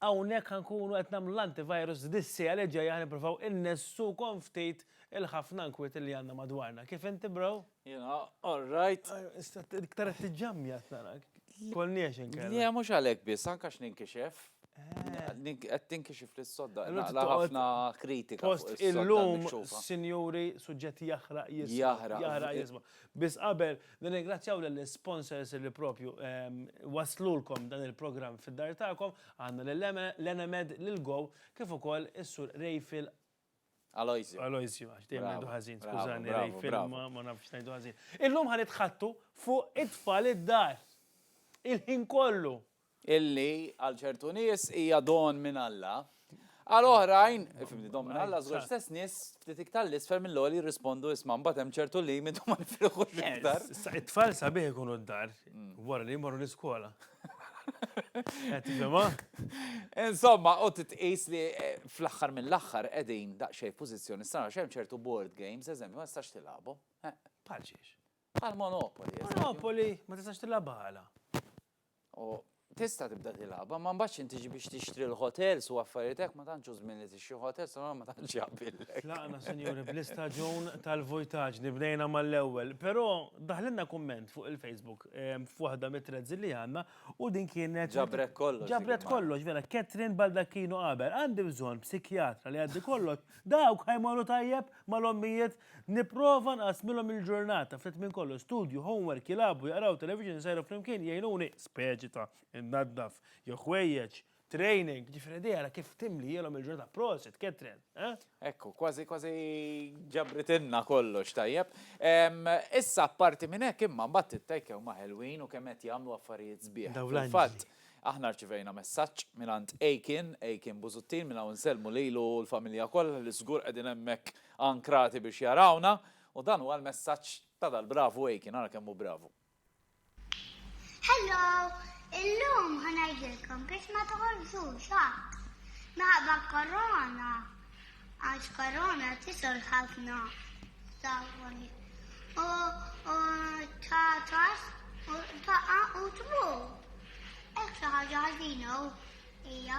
Hawnhekk ħa nkunu qed nagħmlu l-antivirus dis-siegħa li ġejja ħa nippruvaw innessukom ftit il-ħafna nkwiet li għandna madwarna. Kif inti bro? Jiena all right. Iktar qed tiġġammja qed narak. Kolniex inkella. Le mhux għalhekk biss, anke għax ninkixef. Qed tinkixef li s-sodda qed naqla' ħafna kritika fuq is-sodda minkxufa. Post illum sinjuri suġġett jaħraq jisma'. Jaħraq jisma'. Biss qabel Nirringrazzjaw lill-isponsors li proprju wasslulkom dan il-programm fid-dar tagħkom, għandna lil Enemed, lil Go kif ukoll is-Sur Rayfield. Aloysiu. Aloysiu, għax dejjem ngħidu ħażin, skużani Rayfield, ma nafx ngħidu ħażin. Illum ħa nitħaddtu fuq it-tfal id-dar. Il-ħin kollu. illi għal ċertu nies hija don minn Alla, għal oħrajn, fimni, don minn Alla, żgur stess nies ftit iktar 'l isfel mill-għoli jirrispondu isma' mbagħad hemm ċertu limitu ma nifirħux iktar. Issa it-tfal sabiħ ikunu d-dar wara li jmorru l-iskola. Qed tifhimha? Insomma, u tqis li fl-aħħar mill-aħħar qegħdin daqsxejn f'pożizzjoni strana għax hemm ċertu board games, eżempju, ma tistax tilgħabhom. Bħal xiex? Bħal Monopoly. Monopoly ma tistax tilgħabha għala? U tista' tibda tilgħabha, ma mbagħad x'inhi tiġi biex tixtri l-hotels u affarijiet hekk ma tantx hu żmien li tixtri hotels allura ma tantx jaqbillek. Tlaqna, sinjuri, bl-istaġun tal-vojtaġni, bdejna mal-ewwel. Però daħlilna kumment fuq il-Facebook f'waħda mit-threads li għandna u din kienet. Ġabret kollox. Ġabret kollox, vera. Catherine Baldacchino qabel, Għandi bżonn psikjatra li jgħaddi kollox, dawk ħa jmorru tajjeb mal-ommijiet Nipprova nqassmilhom il-ġurnata, ftit minn kollox, studju, homework, jilagħbu, jaqraw, television, isajru flimkien, jgħinuni, speċita, innaddaf, jew ħwejjeġ, training, jiġifieri idea ara kif timlielhom il-ġurnata, prosit, Catherine, eh? Ekku, kważi kważi ġabritilna kollox tajjeb. Issa apparti minn hekk imma mbagħad it-take huma ħelwin u kemm qed jagħmlu affarijiet sbieħ. Fil-fatt, aħna rċivejna messaġġ mingħand Aiken, Aiken Busuttil, minn hawn insellmu lilu u l-familja kollha li żgur qegħdin hemmhekk Ankrati biex jarawna, u dan huwa l-messaġġ ta' dal-bravu Aiken, ara kemm hu bravu. Hello! Illum ħa ngħidilkom biex ma toħolżux ħadd minħabba korona għax korona tisol ħafna sawwani u tatas u taqa' u tmur. Hekk xi ħaġa ħażina hija.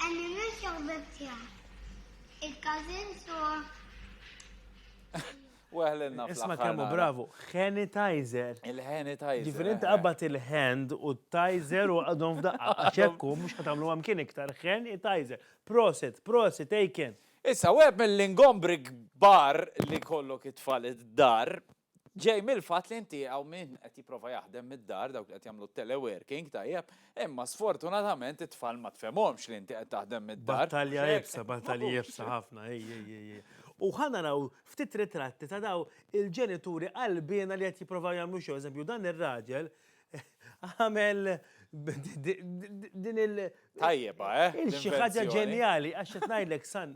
Għalli minn xaħbet tiegħek. Il-każin suwa. Weħlenna Isma kemmu bravu, sanitizer. Il-sanitizer. Ġifir inti qabbat il-hand u t-tizer u għadhom f'daqqa. Għaxekku, mux ħatamlu għam kien iktar, sanitizer. Prosit, prosit, ejken. Issa, u għeb mill-ingombri kbar li kollok it-tfal id-dar, ġej mill-fatt li inti hawn min qed jipprova jaħdem mid-dar dawk li qed jagħmlu t-teleworking tajjeb, imma sfortunatament it-tfal ma tfhemhomx li inti qed taħdem mid-dar. Battalja iebsa, battalji iebsa ħafna, ej, ej, ej, ej. U ħa naraw ftit ritratti ta' dawn il-ġenituri qalbiena li qed jipprovaw jagħmlu xogħol. Eżempju, dan ir-raġel Għamel din il- Tajjeba, eh? Il xi ħaġa ġenjali, għax qed ngħidlek san,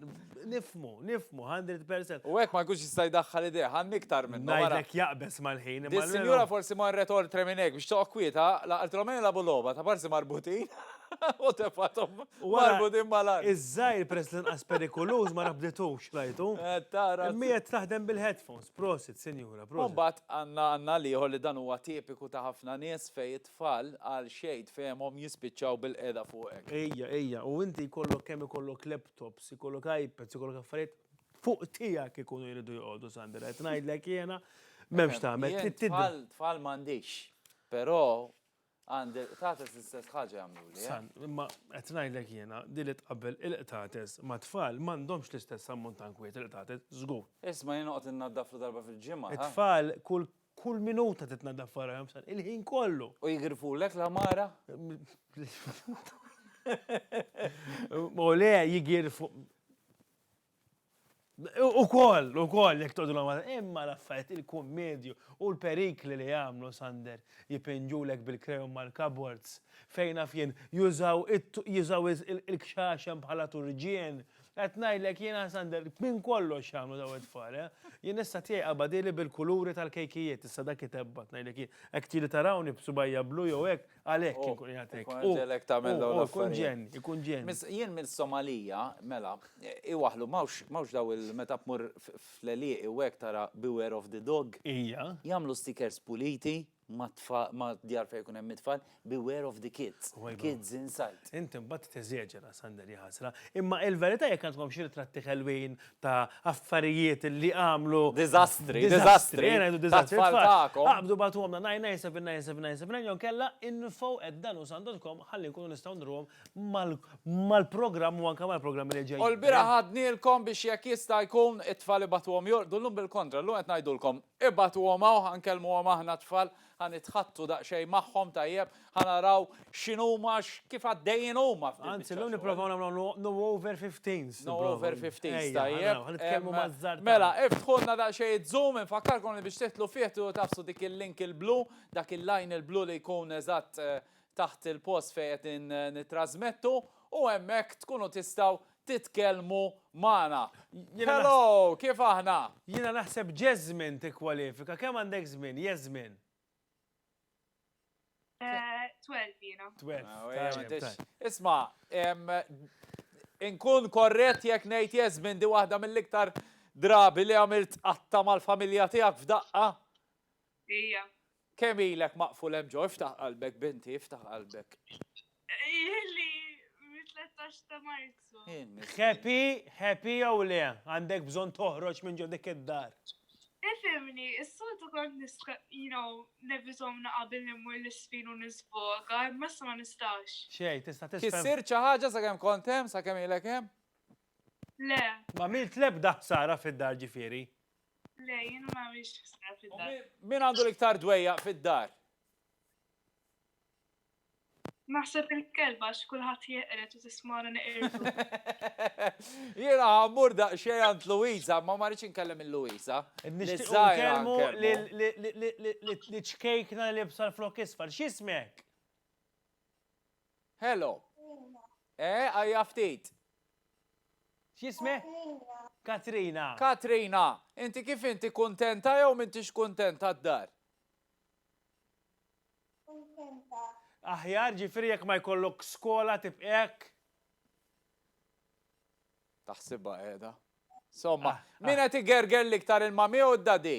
nifmu, nifmu, 100%. U hekk ma jkunx jista' jdaħħal idea, ħan iktar minn. Ngħidlek jaqbeż mal-ħin. Is-sinjura forsi marret oltre minn hekk biex toqgħod kwieta, laqaltilhom ejn labu logħba ta' parsi marbutin u tefathom marbutin mal-art. Iż-żgħir peress li nqas perikoluż ma rabditux, rajtu? Eh, tara. Imma qed taħdem bil-headphones. Prosit sinjura, prosit. U mbagħad għandna għandna l-ieħor li dan huwa tipiku ta' ħafna nies fejn it-tfal għal xejn fehmhom jispiċċaw bil-qiegħda fuq hekk. Ejja, ejja, u inti jkollok kemm ikollok laptops, ikollok iPads, ikollok affarijiet, fuq tiegħek ikunu jridu joqogħdu Sandra, qed ngħidlek jiena, m'hemmx tagħmel, trid tidher. Jien tfal, tfal m'għandix, però Għandi l-qtates l-istess ħaġa jagħmluli. Eh? San, imma qed ngħidlek jiena din li tqabbel il-qtates ma' tfal m'għandhomx l-istess ammont ta' nkwiet il-qtates żgur. Isma' jien noqgħod innaddaflu darba fil-ġimgħa. It-tfal kull kull minuta titnaddaf farahom san il-ħin kollu. U jigrifulek la mara? U le jigirfu. Ukoll, ukoll, jekk tgħodulhom għal imma l-affarijiet, il-kummedju u l-perikli li jagħmlu, Sander, jipinġulek bil-krejun mal-cupboards, fejn naf jien, jużaw jużaw il-kxaxen bħala turġien. Qed ngħidlek jiena, Sander, minn kollox jagħmlu dawn it-tfal, eh! Jien issa tiegħi qabadieli bil-kuluri tal-kejkijiet, issa dak itebbgħat, ngħidlek jien. Hekk tieli tarawni b'subgħajja blu jew hekk, Għalhekk Oh, inkun qiegħed hekk. ikun U- ġelek tagħmel u- dawn u Ikun l-affarijiet. ġenni, ikun ġenni. Mis- Jien mill-Somalija, mela, iwaħlu, mawx mawx daw il meta tmur f- fl-elieqi u hekk tara beware of the dog. Ija. Jagħmlu stickers puliti ma' tfa- ma' djar fejn ikun hemm it-tfal, beware of the kids, Wajba. kids inside. Inti mbagħad teżeġera, Sander, ja ħasra. Imma il-verità jekk għandkom xi ritratti ħelwin ta' affarijiet li għamlu. Diżastri, diżastri. Ejja ngħidu diżastri. Tfal tagħkom. Aqbdu bagħtuhomna 997 jew kella info@danusandotcom ħalli nkunu nistgħu ndruhom mal-programm u anke mal-programmi li ġejjin. U l-bieraħ għadnielkom biex jekk jista' jkun it-tfal ibagħtuhom jorqdu llum bil-kontra. Llum qed ngħidulkom ibagħtuhom hawn ħa nkellmuhom aħna t-tfal. Ħa nitħaddtu daqsxejn magħhom, tajjeb, ħa naraw x'inhuma, kif għaddejjin huma f'din il-biċċa xogħol. Anzi, llum nipprovaw nagħmlu no over fifteens. No over fifteens, tajjeb. Ħa nitkellmu maż-żgħar. Mela, iftħulna daqsxejn iz-Zoom, infakkarkom li biex tidħlu fih tridu tagħfsu dik il-link il-blu, dak il-line il-blu li jkun eżatt taħt il-post fejn qed nittrażmettu u hemmhekk tkunu tistgħu titkellmu magħna. Hello, kif aħna? Jiena naħseb Jasmine tikkwalifika. Kemm għandek żmien, Jasmine? Eh, twelve jiena. Twelve. Isma, inkun korret jekk ngħid Jasmine di waħda mill-iktar drabi li għamilt qatta mal-familja tiegħek f'daqqa? Ija. Kemm ilek maqful hemm ġo, iftaħ qalbek binti, iftaħ qalbek. Ili mit-13 ta' Marzu. Happy, happy jew le, għandek bżonn toħroġ minn ġo dik id-dar. Ifimni, is-soltu kont nista' you know, nevitom naqabel immur l-isfin u niżvoga, imma issa ma nistax. Xejn, tista' tisfem. Kissir xi ħaġa sakemm kont hemm, sakemm ilek hemm? Le. M'għamilt l-ebda ħsara fid-dar ġifieri? Le, jien ma għamilx ħsara fid-dar. Min għandu l-iktar dwejjaq fid-dar? Naħseb il-kelba x'kulħadd jeqred u tismara neqirdu. Jiena ħammur daqsxejn għand Luisa, ma ma rridx inkellem il-Luisa. Nitkellmu li ċkejkna li bsal flok isfar, x'ismek? Hello. Eh, għajja ftit. X'jisme? Katrina. Katrina, inti kif inti kuntenta jew m'intix kuntenta d-dar? Kuntenta. Aħjar ġifieri jekk ma jkollok skola tibqek? Taħsibha qiegħda. Somma, ah, ah. min qed igerger l-iktar il-mami u d-dadi?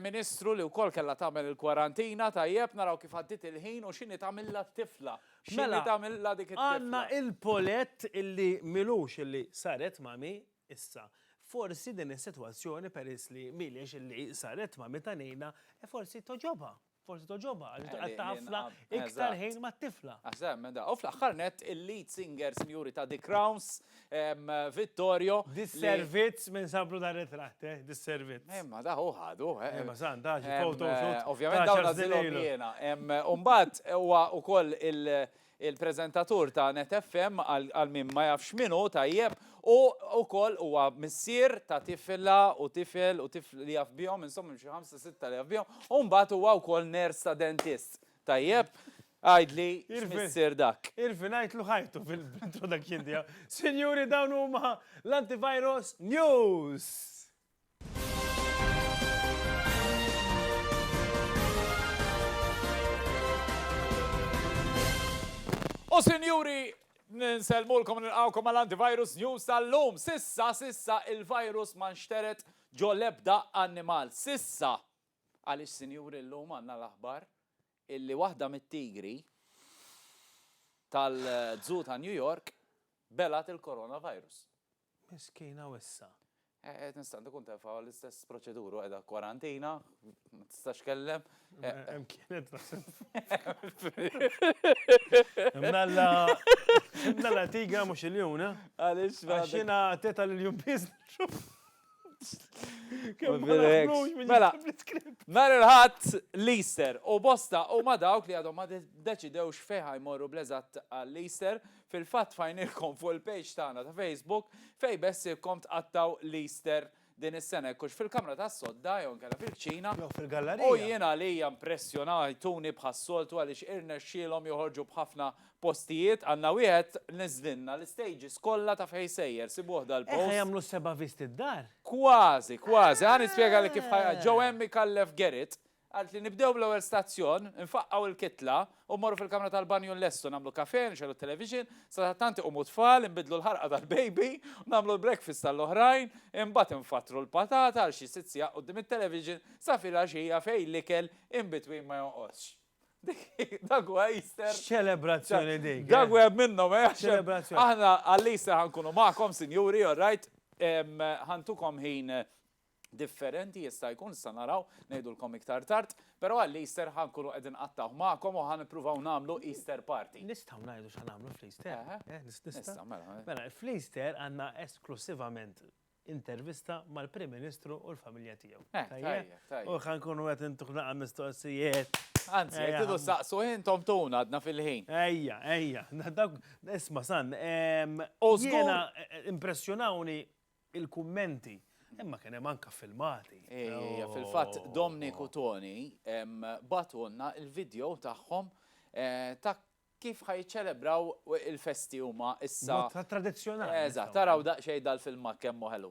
Ministru li wkoll kellha tagħmel il-kwarantina, tajjeb, naraw kif għaddiet il-ħin u x'inhi tagħmilha t-tifla. X'inhi tagħmilha dik it-tifla. Mela, għandna il-Paulette illi m'ilux illi saret mami, issa, forsi din is-sitwazzjoni peress li m'iliex illi saret mami ta' Nina, forsi togħġobha. Forsi togħġobha għaliex daqqa ta' ħafna iktar ħin mat-tifla. Aħseb minn da. U fl-aħħar nett il-lead singer sinjuri ta' The Crowns, Vittorio. Disservizz minn sablu dar ritratt, eh, disservizz. Imma da hu ħadu, eh. Imma san da xi photo shoot. Ovvjament dawn għażilhom jiena. Imbagħad huwa wkoll Il-preżentatur ta' Net FM, għal min ma jafx min hu, tajjeb, hu wkoll huwa missier ta' tifla u tifel u tifl li jaf bihom, insomma hemm xi ħamsa sitta li jaf bihom, u mbagħad huwa wkoll nurse ta' dentist. Tajjeb? Għidli x'missier dak. Irfi ngħidlu ħajtu fil-introduction tiegħu. Sinjuri dawn huma l-Antivirus News! U sinjuri, nsellmulkom nilqawkom għal antivirus news tal-lum. Sissa, sissa il-virus ma nxteret ġo lebda annimal. Sissa, għaliex sinjuri l-lum għanna l-aħbar illi waħda mit-tigri tal-dżu ta' New York belat il-coronavirus. Miskina u issa? Eh, eh, tista' tkun tefa' l-istess proċedura u qiegħda kwarantina, ma tistax kellem. Eh, eh. Hemm kienet naħseb. Mnalla mnalla tiga mhux il-jum, eh? Għaliex għax jiena teta l-jum biss. Mela, nar il-ħadd l-Easter u bosta u ma dawk li għadhom ma deċidewx fejn jmorru bleżat għall-Easter Fil-fatt fajnilkom fuq il-page tagħna ta' Facebook fejn beħsiebkom tqattgħu l-Easter din is-sena jekk hux fil-kamra tas-sodda jew inkella fil-kċina. Jew fil-gallarija. U jien għalija impressjonajtuni bħas-soltu għaliex irnexxielhom joħorġu b'ħafna postijiet. Għandna wieħed neżlilna l-istages kollha taf ħej sejjer, sibuh dal-post. Hekk ħa jagħmlu s-seba' visti d-dar? Kważi, kważi. Ħa nispjegalik kif ħa. Ġew hemm ikallef Gerrit, Għidt li nibdew bl-ewwel stazzjon, infaqqgħu l-kitla u mmorru fil-kamra tal-banju nlestu, nagħmlu kafè, nixegħlu t-televixin, sadattant iqumu t-tfal, inbiddlu l-ħarqa tal-baby, nagħmlu l-breakfast għall-oħrajn, imbagħad infattru l-patata għal xi sitt sigħat quddiem it-televixin sa filgħaxija fejn l-ikel in between ma jonqosx. Dak huwa Easter. X'ċelebrazzjoni dik! Dak wieħed minnhom, eh! X'ċelebrazzjoni! Aħna għall-Easter ħa nkunu magħkom, sinjuri, all right, ħa ntukom ħin differenti jista' jkun, nistgħu naraw, ngħidulkom iktar tard, però għall-Easter ħa nkunu qed inqattgħu magħkom u ħa nippruvaw nagħmlu Easter party. Nistgħu ngħidu x'ħa nagħmlu fl-Easter? Eħe. Eh, nista'? Nista', mela. Mela, fl-Easter għandna esklussivament intervista mal-Prim Ministru u l-familja tiegħu. Eh, tajjeb, tajjeb. U ħa nkunu qed intuh laqgħa mistoqsijiet. Anzi, jekk tidu saqsu intom tuna għadna fil-ħin. Ejja, ejja, dak isma' san. U żgur. Impressjonawni il-kummenti, imma kien hemm anke filmati. Ejja, fil-fatt Dominic u Toni bagħtulna l-video tagħhom ta' kif ħa jiċċelebraw il-festi huma issa. Mod ta' tradizzjonali. Eżatt, araw daqsxejn dal-filmat kemm hu ħelu.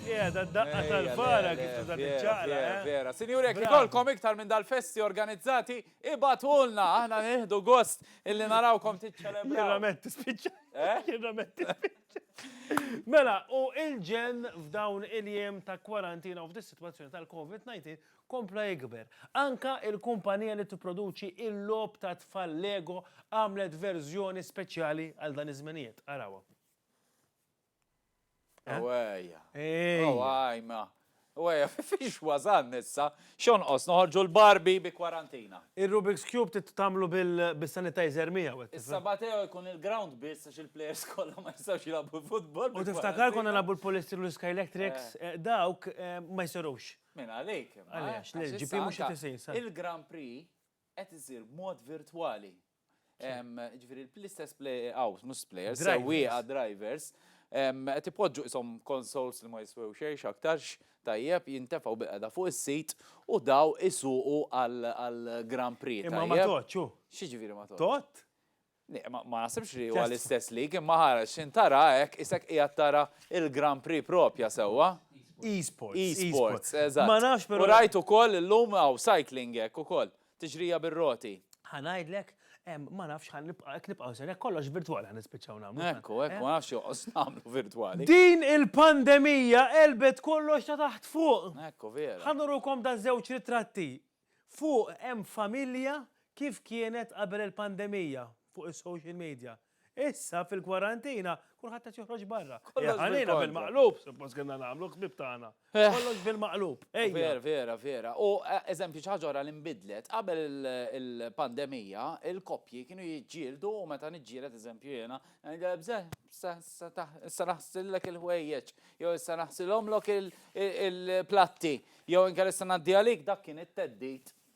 Qiegħda d-daqqa tal-bara kif tuża tiċċaqla. Vera, sinjuri jekk ikollkom iktar minn dal-festi organizzati, ibgħatulna, aħna nieħdu gost illi narawkom tiċċelebraw. Jirrament tispiċċa. Jirrament tispiċċa. Mela, u il-ġen f'dawn il-jiem ta' kwarantina u f'dis-sitwazzjoni tal-COVID-19 kompla jikber. Anka il-kumpanija li tipproduċi il-lob ta' tfal Lego għamlet verżjoni speċjali għal dan iż-żmenijiet. Arawa. Ewejja. Ewejma. Ewejja, fiex wazan nissa, xonqos noħorġu l-barbi bi kwarantina. Il-Rubik's Cube trid tagħmlu bis-sanitizer miegħu. Is-Sabateo jkun il-ground biss għax il-players kollha ma jistgħux jilagħbu futbol. U tiftakar konna nilagħbu l-polistiru u l-sky electrics, dawk ma jsirux. Minn għalik. Għaliex, l-LGP mhux qed isir. Il-Grand Prix qed isir b'mod virtwali. Ġifieri l-istess play out, mhux players, sewwieqa drivers, qed ipoġġu ishom consoles li ma jiswew xejn x'aktarx tajjeb jintefgħu bil-qeda fuq is-sit u daw isuqu għal Grand Prix. Imma ma tgħodx hu. X'jiġifieri ma tgħodx? Tgħod? Ma nasibx li huwa l-istess lig, imma ħareġ x'in tara hekk isek qiegħed tara il-Grand Prix propja sewwa. E-sports. E-sports, eżatt. Ma nafx però. U rajt ukoll illum hawn cycling hekk ukoll. tiġrija bir-roti. Ħa ngħidlek, ma nafx ħa nibqa' hekk nibqgħu ser hekk kollox virtwali ħa nispiċċaw nagħmlu. Ekku, ekku, eh? ma nafx joqgħos nagħmlu virtwali. Din il-pandemija qelbet kollox ta' taħt fuq. Ekku, vera. Ħa nurukom da' żewġ ritratti. Fuq hemm familja kif kienet qabel il-pandemija fuq is-social media. Issa fil-kwarantina kulħadd qed joħroġ barra. Kollox Ejja, ħalina bil-kontra. bil-maqlub, suppost kellna nagħmlu ħbieb tagħna. Eh. Kollox bil-maqlub. Ejja. Vera, vera, vera. U eh, eżempju, xi ħaġa oħra li nbidlet, qabel il- il-pandemija, il-koppji kienu jiġġieldu u meta niġġieled eżempju jiena, eh, bżeh, sa- sa ta- issa naħsillek il-ħwejjeġ, jew issa naħsilhomlok il- il- il-platti, jew inkella issa ngħaddi għalik, dak kien it-teddit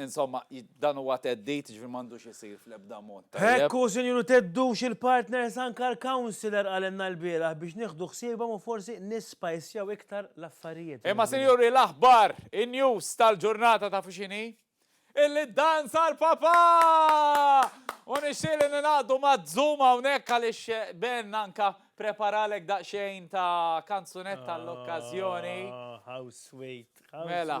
Insomma, dan huwa theddid, jiġifieri m'għandux isir fl-ebda mod. Hekk hu, Sinjur, u theddux il-partners anke l-councillor qalilna lbieraħ biex nieħdu ħsiebhom u forsi nisspajsjaw iktar l-affarijiet. Imma sinjuri l-aħbar, in-news tal-ġurnata tafu x'inhi? Illi ddanza l-Papà! U nixtieq li ningħaqdu ma' Zoom hawnhekk għaliex Ben anke preparalek daqsxejn ta' kanzunetta għall-okkażjoni. How sweet, how sweet. Mela,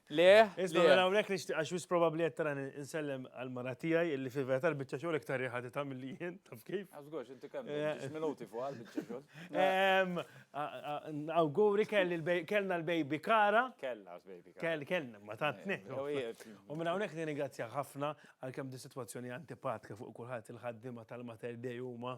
Le, Iżda mela hawnhekk nixtieq għax wis probabbli qed tarani insellem għal mara tiegħi illi fil-verità l-biċċa xogħol iktar riħa titha' milli jien, taf kif? Għażgurx, inti kemm eh. minuti fuq għal biċċa xogħol. Ehm, Awguri kellna l-baby Kara. Kellna l-baby Kara. Kellna, ma tatni. Eh, u minn hawnhekk nirringrazzja ħafna għalkemm di sitwazzjoni antipatka fuq kulħadd il-ħaddiema tal-Mater Dei huma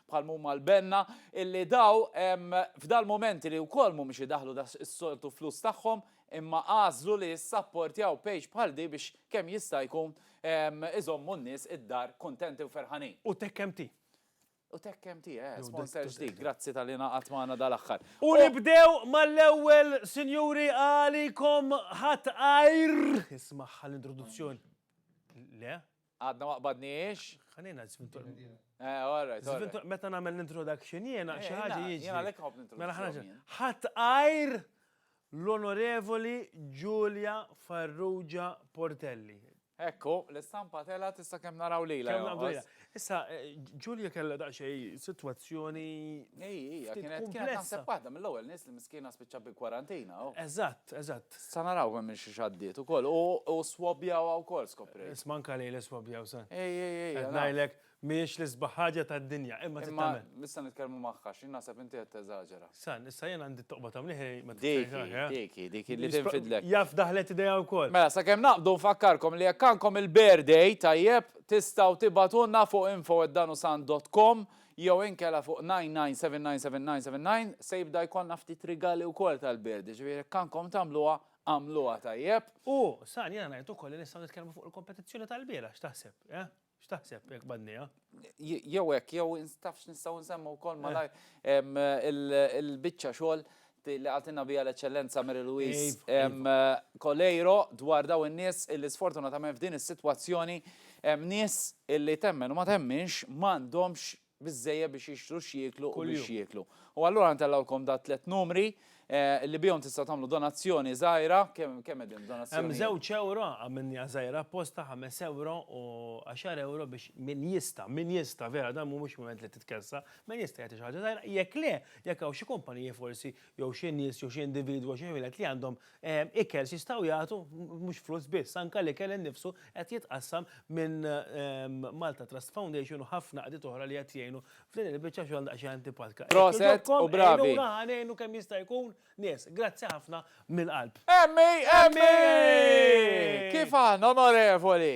bħal m'huma l-benna, illi daw f'dal-mumenti li wkoll mhumiex idaħħlu daqs is-soltu flus tagħhom, imma għażlu li jissapportjaw page bħal di biex kemm jista' jkun iżommu n-nies id-dar kuntenti u ferħanin. U Tech MT. U Tech MT, eh, sponsor ġdid, grazzi talli ingħaqadt magħna dal-aħħar. U nibdew mal-ewwel, sinjuri, għalikom ħadd għajr, ismagħha l-introduzzjoni. Le? Għadna ma qbadniex? Ħalina żvintu. Eh, all right, all right. Meta nagħmel l-introduction jiena eh, xi ħaġa jiġi. Jiena lek ħobb mela l-introduction. Ħadd għajr l-Onorevoli Giulia Farrugia Portelli. Ekku, l-istampa tela tista' kemm naraw lila. Kemm naraw lila. Issa, eh, Ġulja kellha daqsxejn sitwazzjoni. Ej, ej, kienet kienet naħseb waħda mill-ewwel nies li miskiena spiċċa bi kwarantina. Oh. Eżatt, eżatt. Sa naraw kemm minn xiex għaddiet ukoll. U swabjawha wkoll skoprejt. Isma' anke lejl iswabjaw sa. Ej, ej, ej. Qed ngħidlek mhijiex l-isbaħ ħaġa tad-dinja, imma trid tagħmel. Imma issa nitkellmu magħha għax jien naħseb inti qed teżaġera. San, issa jien għandi t-toqba ta' mliħi ma titfejħx dik hi, dik hi, dik hi li tinfidlek. Jaf daħlet idejha wkoll. Mela sakemm naqbdu nfakkarkom li jekk għandkom il-birthday, tajjeb, tistgħu tibgħatulna fuq info@danusand.com Jew inkella fuq 99799799 se jibda jkollna ftit rigali wkoll tal-bird, jiġifieri jekk għandkom tagħmluha, agħmluha tajjeb. U, San, jiena ngħid ukoll li nistgħu nitkellmu fuq il-kompetizzjoni tal-bieraħ, x'taħseb, eh? X'taħseb jekk b'għadnejha? Jew hekk, jew taf x'nistgħu nsemmu wkoll malajr il-biċċa xogħol Dik li qaltilna biha l-Eċċellenza Mary Louise Coleiro dwar dawn in-nies illi sfortunatament f'din is-sitwazzjoni hemm nies illi temmen u ma temminx m'għandhomx biżżejjed biex jixtru x'jieklu u biex jieklu. U allura ntellgħulkom da' tliet numri li bihom tistgħu tagħmlu donazzjoni żgħira, kemm qegħdin donazzjoni? Hemm żewġ ewro għamilniha żgħira apposta, ħames ewro u għaxar ewro biex min jista', min jista' vera dan mhuwiex mument li titkessa, Min jista' jagħti xi ħaġa żgħira? Jekk le, jekk hawn xi kumpaniji forsi jew xi nies jew xi individwu jew xi ħwienet li għandhom ikel x'jistgħu jagħtu, mhux flus biss, anke l-ikel innifsu qed jitqassam minn Malta Trust Foundation u ħafna qdiet oħra li qed jgħinu f'din il-biċċa xogħol daqsxejn antipatika. Proset u bravi! Jekk joġobkom għinuna ħa ngħinu kemm jista' jkun nies. Grazzi ħafna mill-qalb. Emmi! Emmi! Kif aħna onorevoli!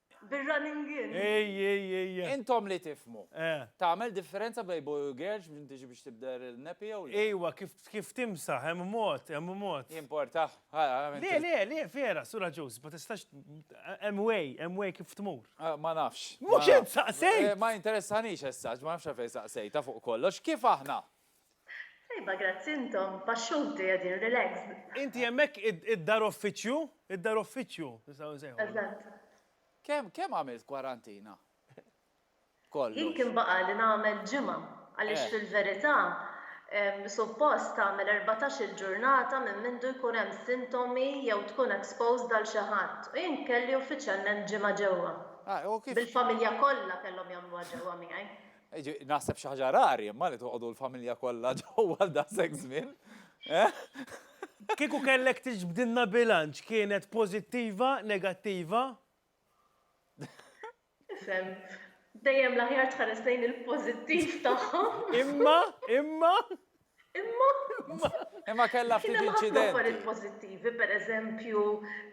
Bir-running in. Ej, ej, ej. Intom li tifhmu. Tagħmel differenza bejn boy u girl minn tiġi biex tibdel in-nepi jew le? Ejwa, kif timsaħ, hemm mod, hemm mod. Jimporta? Le, le, le, vera, sura Joseph, ma tistax, hemm way, hemm way kif tmur. Ma nafx. Mhux int saqsejt! Ma jinteressanix as-such, ma nafx għalfejn saqsejtha fuq kollox. Kif aħna? Tajba grazzi intom, baxxuti qegħdin relaxed. Inti hemmhekk id-dar uffiċċju? Id-dar uffiċċju nistgħu nsejħulha. Eżatt. Kemm kemm għamilt kwarantina? Kollox. Jien kien baqgħali nagħmel ġimgħa għaliex fil-verità suppost tagħmel erbatax-il ġurnata minn mindu jkun hemm sintomi jew tkun exposed għal xi ħadd u jien kelli uffiċjalment ġimgħa ġewwa. Bil-familja kollha kellhom jagħmluha ġewwa miegħi. Naħseb xi ħaġa rari imma li toqgħodu l-familja kollha ġewwa daqshekk żmien. Eh? Kieku kellek tiġbdilna bilanċ kienet pożittiva, negattiva? Isem, dejjem l-aħjar tħares lejn il-pożittiv tagħhom. Imma, imma. Imma. Imma kellha ftit inċidenti. Affarijiet pożittivi, pereżempju,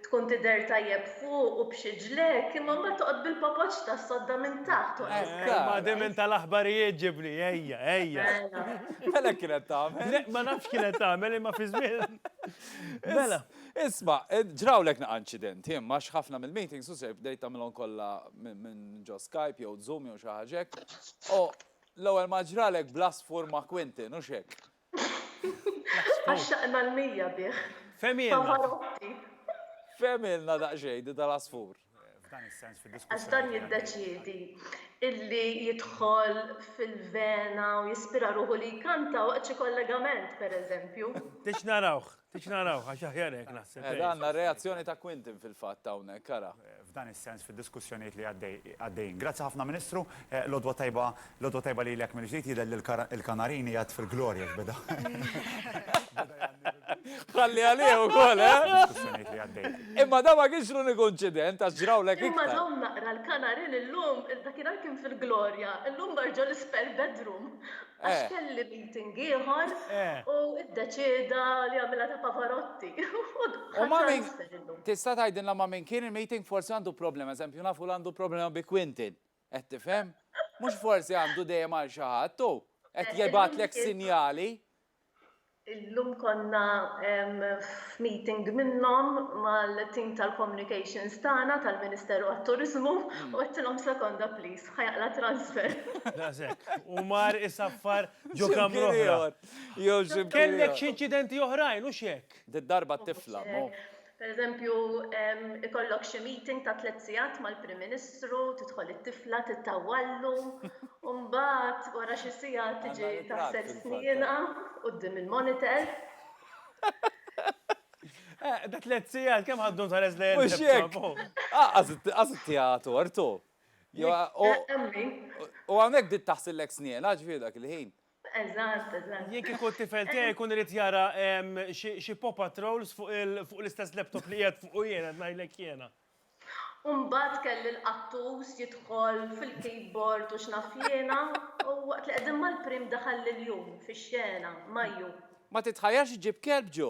tkun tidher tajjeb fuq u b'xi ġlekk, imma mbagħad toqgħod bil-papoġġ tas-sodda minn taħt u għeżżek. Ejja, ma din minn tal-aħbarijiet ġibli, ejja, ejja. Mela hekk kienet tagħmel. Le, ma nafx kienet tagħmel, imma fi żmien. Mela. Isma', ġrawlek naqa' inċidenti, imma għax ħafna mill-meetings u ser bdejt tagħmilhom kollha minn ġo Skype jew Zoom jew xi ħaġa hekk. L-ewwel ma ġralek bl-għasfur ma' Quentin, hux hekk? Għaxxaqna l-mija bih. Fehmilna. Pavarotti. Fehmilna daqsxejn din tal-għasfur. F'dan is-sens fid-diskussjoni. Għax dan jiddeċiedi illi jidħol fil-vena u jispira ruħu li jkanta waqt xi kollegament, pereżempju. Tridx narawh. Tix naraw, għax aħjar hekk naħseb. Qiegħda għandna r-reazzjoni ta' Quintin fil-fatt hawnhekk, ara. F'dan is-sens fid-diskussjonijiet li għaddejjin. Grazzi ħafna Ministru, l-għodwa tajba, l-għodwa tajba lilek mill-ġdid, jidher li l-Kanarin qiegħed fil-glorja x'beda. Ħalli għalih ukoll, eh? Diskussjonijiet li għaddejjin. Imma dan ma kienx l-uniku inċident għax ġrawlek iktar. Imma dawn naqra l-Kanarin illum, dakinhar kien fil-glorja, illum marġa l-spare bedroom. Għax kelli meeting ieħor u iddeċieda li jagħmilha ta' Pavarotti. U ma' min? Tista' tgħidilna ma' min kien il-meeting? Forsi għandu problema, eżempju nafu li għandu problema bi Quintin. Qed tifhem? Mhux forsi għandu dejjem għal xi ħadd hu. Qed jibgħatlek sinjali. Illum konna f'meeting minnhom mal-team tal-communications tagħna tal-Ministeru għat-Turiżmu u għedtilhom sekonda please, ħa jaqla' transfer. Daqshekk. U mar isaffar ġo kamra oħra. Kellek xi inċidenti oħrajn, hux hekk? Did-darba t-tifla, mhu? Pereżempju, ikollok xi meeting ta' tliet sigħat mal-Prim Ministru, tidħol it-tifla tittawwallu, u mbagħad wara xi siegħa tiġi taħsel snienha quddiem il-monitor. Da tliet sigħat kemm ħaddu tħares lejn il-tifla. Mhux hekk! Qas ittiha tort hu. U hawnhekk bdiet taħsillek snienha, ġifieri dak il-ħin. Eżatt, eżatt. Jien kieku t-tifel tiegħi jkun irid jara xi pop patrols fuq l-istess laptop li qiegħed fuq jiena ngħidlek jiena. Umbagħad kelli l-qattus jidħol fil-keyboard u x'naf jiena u waqt li qegħdin mal-prim daħal l-jum fix-xena, Maju. Ma titħajjarx iġġib kelb ġo.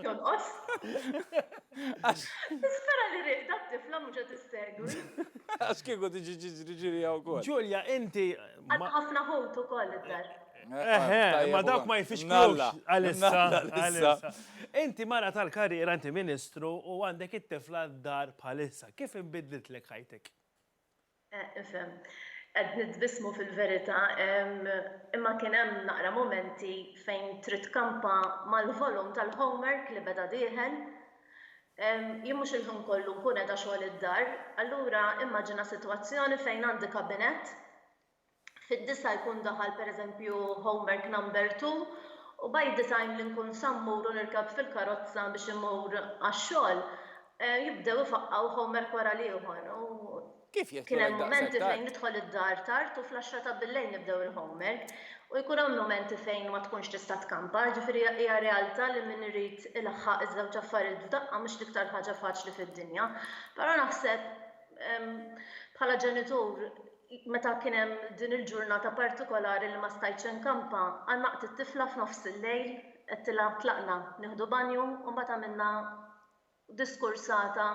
Jonqos. Nispera li rieqda t-tifla mhux qed issegwi. Għax kieku tiġi tiġri ġirija wkoll. Ġulja, inti. Għandha ħafna ħut ukoll id-dar. Eħe, imma dawk ma jfixklux għalissa. Għalissa. Inti mara tal-karriera, inti Ministru u għandek it-tifla d-dar bħalissa. Kif inbidlitlek ħajtek? Eh, nifhem. Qed nitbissmu fil-verità, imma kien hemm naqra momenti fejn trid kampa mal-volum tal-homework li beda dieħel. Jien mhux il-ħin kollu nkun qiegħda xogħol id-dar, allura immaġina sitwazzjoni fejn għandi kabinett Fid-disgħa jkun daħal pereżempju Homework Number Two u by the time li nkun sa mmur u nirkab fil-karozza biex immur għax-xogħol, jibdew ifaqqgħu homework wara l-ieħor u kien hemm mumenti fejn nidħol id-dar tard u fl-għaxra ta' billejl nibdew il-homework u jkun hawn mumenti fejn ma tkunx tista' tkampa, jiġifieri hija realtà li min irid ilaħħaq iż-żewġ affarijiet f'daqqa mhux l-iktar ħaġa faċli fid-dinja. Però naħseb bħala ġenitur, meta kien hemm din il-ġurnata partikolari li ma stajtx inkampa, għannaqt it-tifla f'nofs il-lejl, għedtilha tlaqna nieħdu banju u mbagħad għamilna diskursata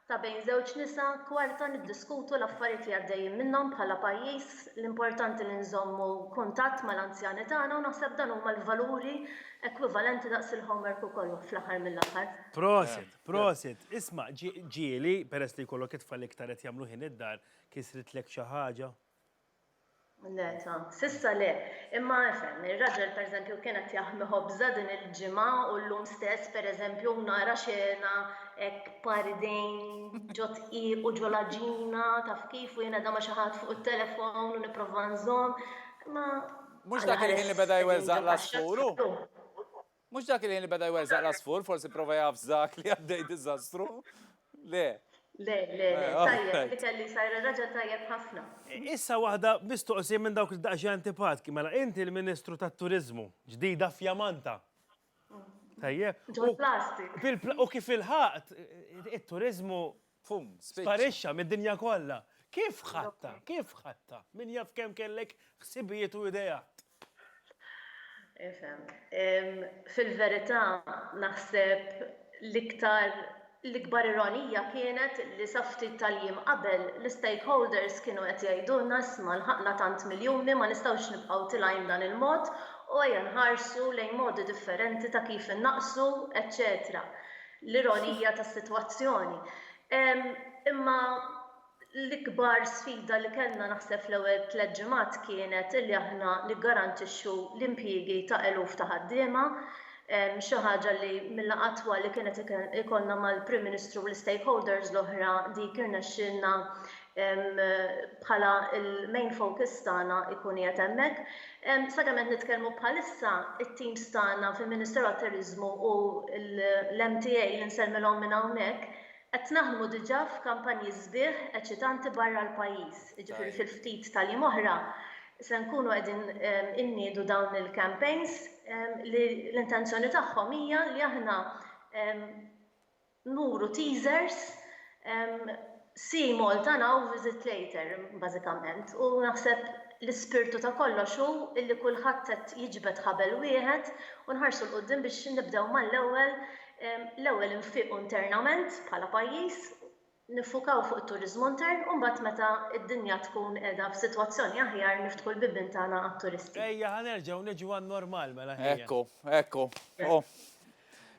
ta' bejn żewġ nisa kwarta niddiskutu l-affarijiet li għaddejjin minnhom bħala pajjiż, l-importanti li nżommu kuntatt mal-anzjani tagħna u naħseb dan huma l-valuri ekwivalenti daqs il-homework u kollox fl-aħħar mill-aħħar. Prosit, prosit. Isma', ġieli, peress li jkollok it-tfal iktar qed jagħmlu ħin id-dar, Kisritlek xi ħaġa? Le ta', s'issa le. Imma efhem, ir-raġel pereżempju kien qed jaħmi ħobża din il-ġimgħa u llum stess pereżempju nara xena hekk b'par idejn ġo dqiq u ġo l-għaġina taf kif u jien qiegħda ma' xi ħadd fuq it-telefown u nipprova nżomm. Imma. Mhux dak il-ħin li beda jweżżaq l-għasfur hu? Mhux dak il-ħin li beda jweżżaq l-għasfur, forsi pprova jafżak li għaddej diżastru. Le. Le, le, le, tajjeb, li kelli jsajjar raġel tajjeb ħafna. Issa waħda mistoqsija minn dawk li daqsxejn antipatki, mela inti l-Ministru tat-Turiżmu, ġdida fjamanta. Tajjeb. Ġol-plastik. U kif ilħaqt, it-turiżmu Pum! Spiċċa! Sparixxa mid-dinja kollha! Kif ħadtha? Kif ħadtha? Min jaf kemm kellek ħsibijiet u ideat! Ifhem. Fil-verità, naħseb l-iktar, l-ikbar ironija kienet li sa ftit tal-jiem qabel, l-istakeholders kienu qed jgħidulna isma' lħaqna tant miljuni ma nistgħux nibqgħu tilgħin b'dan il-mod u ejja nħarsu lejn modi differenti ta' kif innaqqsu, eċċetera. l-ironija tas-sitwazzjoni. Imma l-ikbar sfida li kellna naħseb fl-ewwel tliet ġimgħat kienet li aħna niggarantixxu l-impjiegi ta' eluf ta' ħaddiema, xi ħaġa li mill-laqgħa twal li kienet ikollna mal-Prim Ministru u l-istakeholders l-oħra dik irnexxielna bħala l-main focus tagħna jkun qiegħed hemmhekk. Sakemm qed nitkellmu bħalissa, it-teams tagħna fil-Ministeru għat-Turiżmu u l-MTA li nsellmilhom minn hawnhekk, qed naħdmu diġà f'kampanji sbieħ eċitanti barra l-pajjiż. Jiġifieri fil-ftit tal-jiem oħra se nkunu qegħdin inniedu dawn il-campaigns li l-intenzjoni tagħhom hija li aħna nuru teasers, see Malta now, visit later bażikament. U naħseb l-ispirtu ta' kollox hu li kulħadd qed jiġbed ħabel wieħed u nħarsu 'l quddiem biex nibdew mal-ewwel, l-ewwel infiqu internament bħala pajjiż, niffukaw fuq it-turiżmu intern u mbagħad meta d-dinja tkun qiegħda f'sitwazzjoni aħjar niftħu l-bibien tagħna għat-turisti. Ejja ħa nerġgħu niġu għan-normal mela ħejja. Ekku, ekku.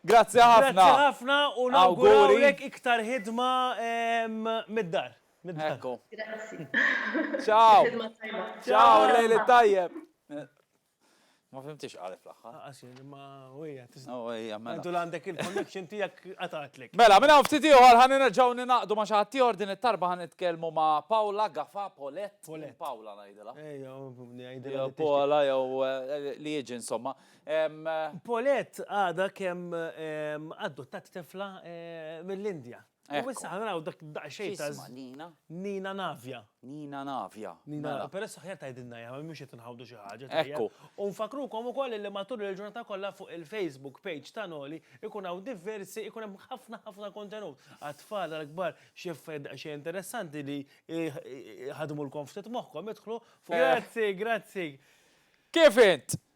Grazzi ħafna. Grazzi ħafna u nawgurawlek iktar ħidma mid-dar. Ekku. Grazzi. Ciao. Ħidma tajba. Ciao, lejl it-tajjeb. Ma fimtix x'qalet fl-aħħar. Għax ma hija tista'. Oh, hija mela. Għandu għandek il-connection tiegħek qatgħatlek. Mela, minn hawn ftit ieħor ħan nerġgħu ninaqdu ma' xi ħadd ieħor din it-tarba ħan nitkellmu ma' Paula Gafa Polet. Paula ngħidilha. Ejja, ngħidilha. Paula jew eh, li jiġi insomma. Paulette għadha kemm adottat tifla mill-Indja. U issa ħanaraw dak daqsxejn ta' Nina. Nina Navja. Nina Navja. Nina, mela. peress aħjar tgħidilna jgħam, mhux qed inħawdu xi ħaġa. Ekku. U nfakrukom ukoll li matul il-ġurnata kollha fuq il-Facebook page ta' Noli ikun hawn diversi, ikun hemm ħafna ħafna kontenut. Għat-tfal għall-kbar xi affarijiet daqsxejn interessanti li ħadmulkom ftit moħħkom idħlu fuq. Grazzi, grazzi. Kif int?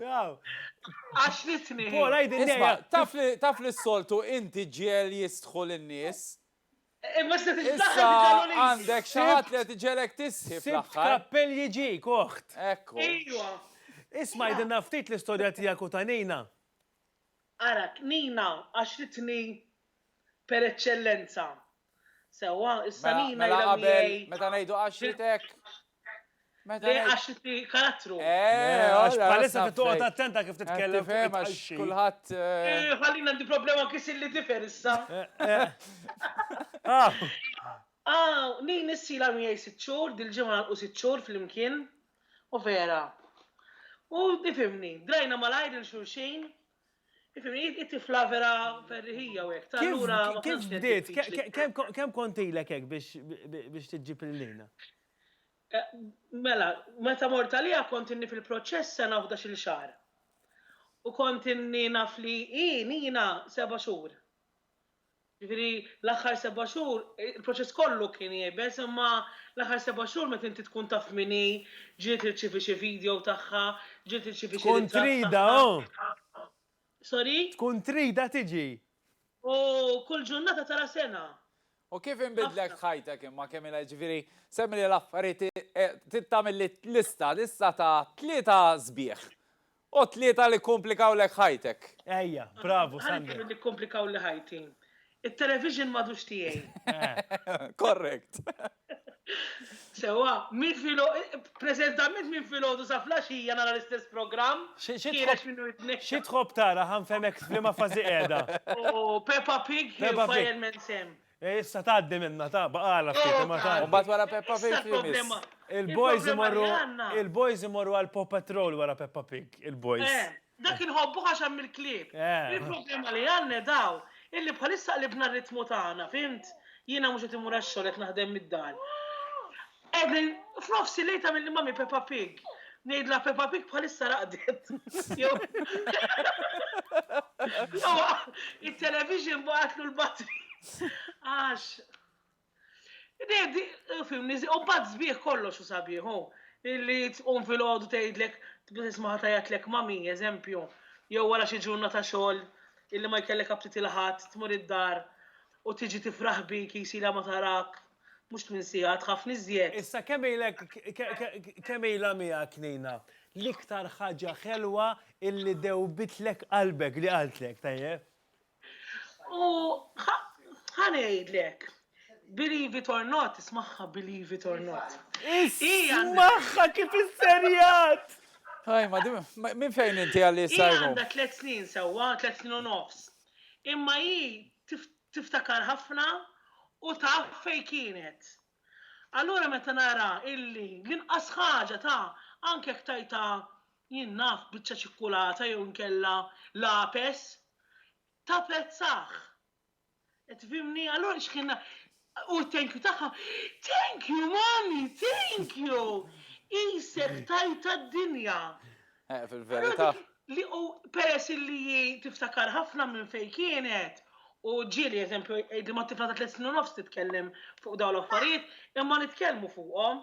Għax li t-tnejn. Paul, għajdin Isma, taf li taf li s-soltu inti ġiel jistħol in-nies. Imma se Issa għandek xi ħadd li qed iġelek tissib Sibt l-aħħar. kappell jiġik, oħt. Ekku. Ejwa. Isma' għidilna ftit l-istorja tiegħek u ta' Nina. Ara, Nina, għax li t-tnejn per eċċellenza, Sewwa, issa li mela qabel meta ngħidu għaxietek. Meta għaxiti karattru. Eh, għax palissa qed toqgħod attenta kif titkellem fuq għax kulħadd. Eh, eh, ħallina għandi problema kif li differ issa. Ah, ah nin issi la miegħi sitt xhur, dil-ġimgħa u sitt xhur flimkien. U vera. U difimni, drajna malajr il-xulxin, Ifimni, it-tifla vera ferriħija u hekk. Allura kif bdiet? Kemm kont ilek hekk biex tiġġib il-lina? Eh, mela, meta mort għalija kont inni fil-proċess sena uħda xil xar. U kont inni naf li i nina seba xhur. Jiġifieri l-aħħar seba' xhur, il-proċess kollu kien iebes, imma l-aħħar seba' xhur meta inti tkun taf min hi, ġieli tirċievi xi video tagħha, ġieli tirċievi xi ritratt tagħha. Tkun tridha, oh! Sorry? Tkun tridha tiġi. U kull ġurnata tara sena. U kif inbidlet ħajtek imma kemm ilha, jiġifieri semmili l-affarijiet, trid tagħmel lista, lista ta' tlieta sbieħ. O tlieta li kkumplikawlek ħajtek. Ejja, bravu Sander. Ħa nitilqu nikkumplikawli ħajti. It-television m'għadux tiegħi. Correct. Sewwa, min filo, preżentament minn filgħodu sa flaxija nara l-istess programm, ħiereġ minnu jitneħħa. Xi tħobb tara ħa nfehmek f'liema fażi qiegħda. O Peppa Pig hi Fireman Sam. E issa tgħaddi minnha ta' baqala ftit imma tgħaddi. U mbagħad wara Peppa Pig li miss? Il-boys imorru il-boys imorru għal Paw Patrol wara Peppa Pig, il-boys. Eh, dak inħobbuh għax hemm il-klieb. Il-problema li għandna hi dawn, illi bħalissa qlibna r-ritmu tagħna, fhimt? Jiena mhux qed immur għax-xogħol qed naħdem mid-dar. Evelyn, F'nofsi lejl tagħmilni Mummy Peppa Pig. Ngħidla Peppa Pig bħalissa raqdet. Il-television baqatlu l-batri. Għax. Nedi, film nizi, u bat zbieħ kollox u sabiħu. Illi tqum fil-ħodu tgħidlek, tismaħa tajatlek mami, eżempju, jew wara xi ġurnata xogħol illi ma jkellek aptit il-ħadd, tmur id-dar. U tiġi tifraħ bik, jis ilha ma tarak, mhux tmien siegħa, tħaffni iżjed. Issa kemm ilek kemm ilha miegħek Nina? L-iktar ħaġa ħelwa illi dewbitlek qalbek li qaltlek, tajjeb? U ħa ħa ngħidlek, believe it or not, ismagħha believe it or not. Ismagħha kif isserjat! Tajma, di- ma- minn fejn inti għalli Hija sajru? għandha tliet snin sewwa, tliet snin u nofs. imma hi tiftakar ħafna u taf fejn kienet. Allura meta nara illi l-inqas ħaġa ta' anke jekk tgħidha jien naf biċċa ċikkulata jew inkella lapes, tapprezzah. Qed tifhimni? Allura x'kien U t-thank you tagħha, Thank you mommy, thank you! Qisek tajtha d-dinja. Eh, fil-verità. Peress illi hi tiftakar ħafna minn fejn kienet, u ġieli eżempju jgħidli ma' tifla ta' tliet snin u nofs titkellem fuq dawn l-affarijiet, imma nitkellmu fuqhom.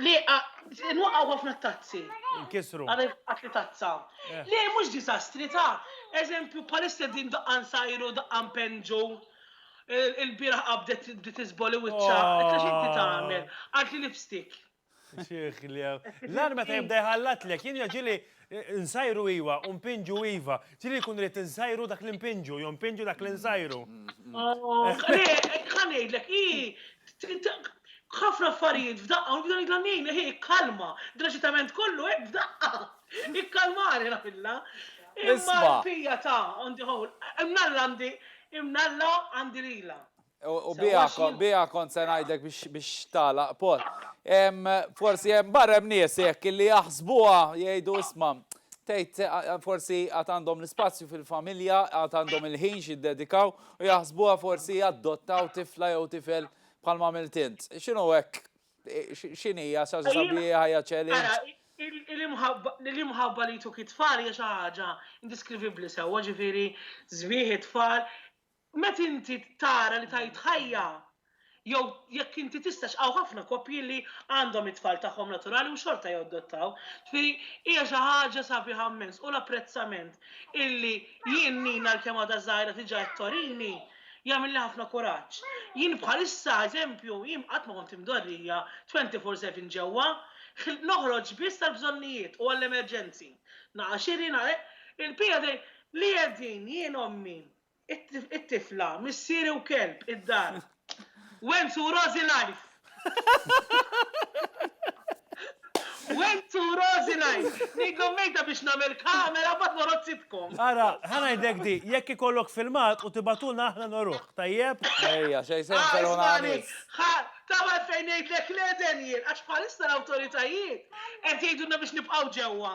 Le, nwaqgħu ħafna t-tazzi. Inkisru. Għadha jitqat li tazza. Eh. Le, mhux diżastri ta' eżempju bħalissa din daqqa nsajru, daqqa npenġu. Il-bieraħ qabdet li tiżboli wiċċa. Oh. Qed x'inti tagħmel? Għad li lipstick. Xieħ li L-arma ta' jibda jħallat lek, jien jaġili Nsajru iwa, u npinġu iva. Ġieli jkun irid insajru dak li npinġu, jew npinġu dak li nsajru. Ħa ngħidlek, hi ħafna affarijiet f'daqqa u nibda ngħidilha ngħinha hi kkalma, dl-aġitament kollu hekk f'daqqa. Ikkalmani ngħidilha. Imma l-pija ta' on the whole, imnalla għandi imnalla għandi lilha. U bija kont se ngħidlek biex tagħlaq pot. Forsi hemm barra hemm nies jekk li jaħsbuha jgħidu isma' tgħid forsi għad għandhom l-ispazju fil-familja, għad għandhom il-ħin jiddedikaw u jaħsbuha forsi jadottaw tifla jew tifel bħal ma għamilt int. X'inhu hekk? X'inhija sa sabi ħajja challenge? L-imħabba li jtuk it-tfal hija xi ħaġa indiskrivibbli sewwa, ġifieri sbieħ it-tfal Meta inti tara li tgħid ħajja jew jekk inti tistax hawn ħafna koppji li għandhom it-tfal tagħhom naturali u xorta jadottaw. Ġifieri hija xi ħaġa sabiħa mmens u l-apprezzament illi jien Nina għalkemm għadha żgħira tiġi qed torini jagħmilli ħafna kuraġġ. Jien bħalissa eżempju jien qatt ma kont imdorrija twenty four seven ġewwa, noħroġ biss għall-bżonnijiet u għall-emerġenzi. Naqa' xiri, naqa' il-piegħi li qegħdin jien ommi It-tifla, missieri u kelb id-dar. Wenzu u Rożi life! Wenzu u Rożi life! Ngħidlhom mejta biex nagħmel kamera mbagħad noroq sitcom. Ara, ħa ngħidlek di, jekk ikollok filmat u tibgħatulna aħna noruh, tajjeb? Ejja, xejn se jinfirħu l-għanis. Ħa, taf għalfejn ngħidlek le, Daniel? Għax bħalissa l-awtoritajiet qed jgħidulna biex nibqgħu ġewwa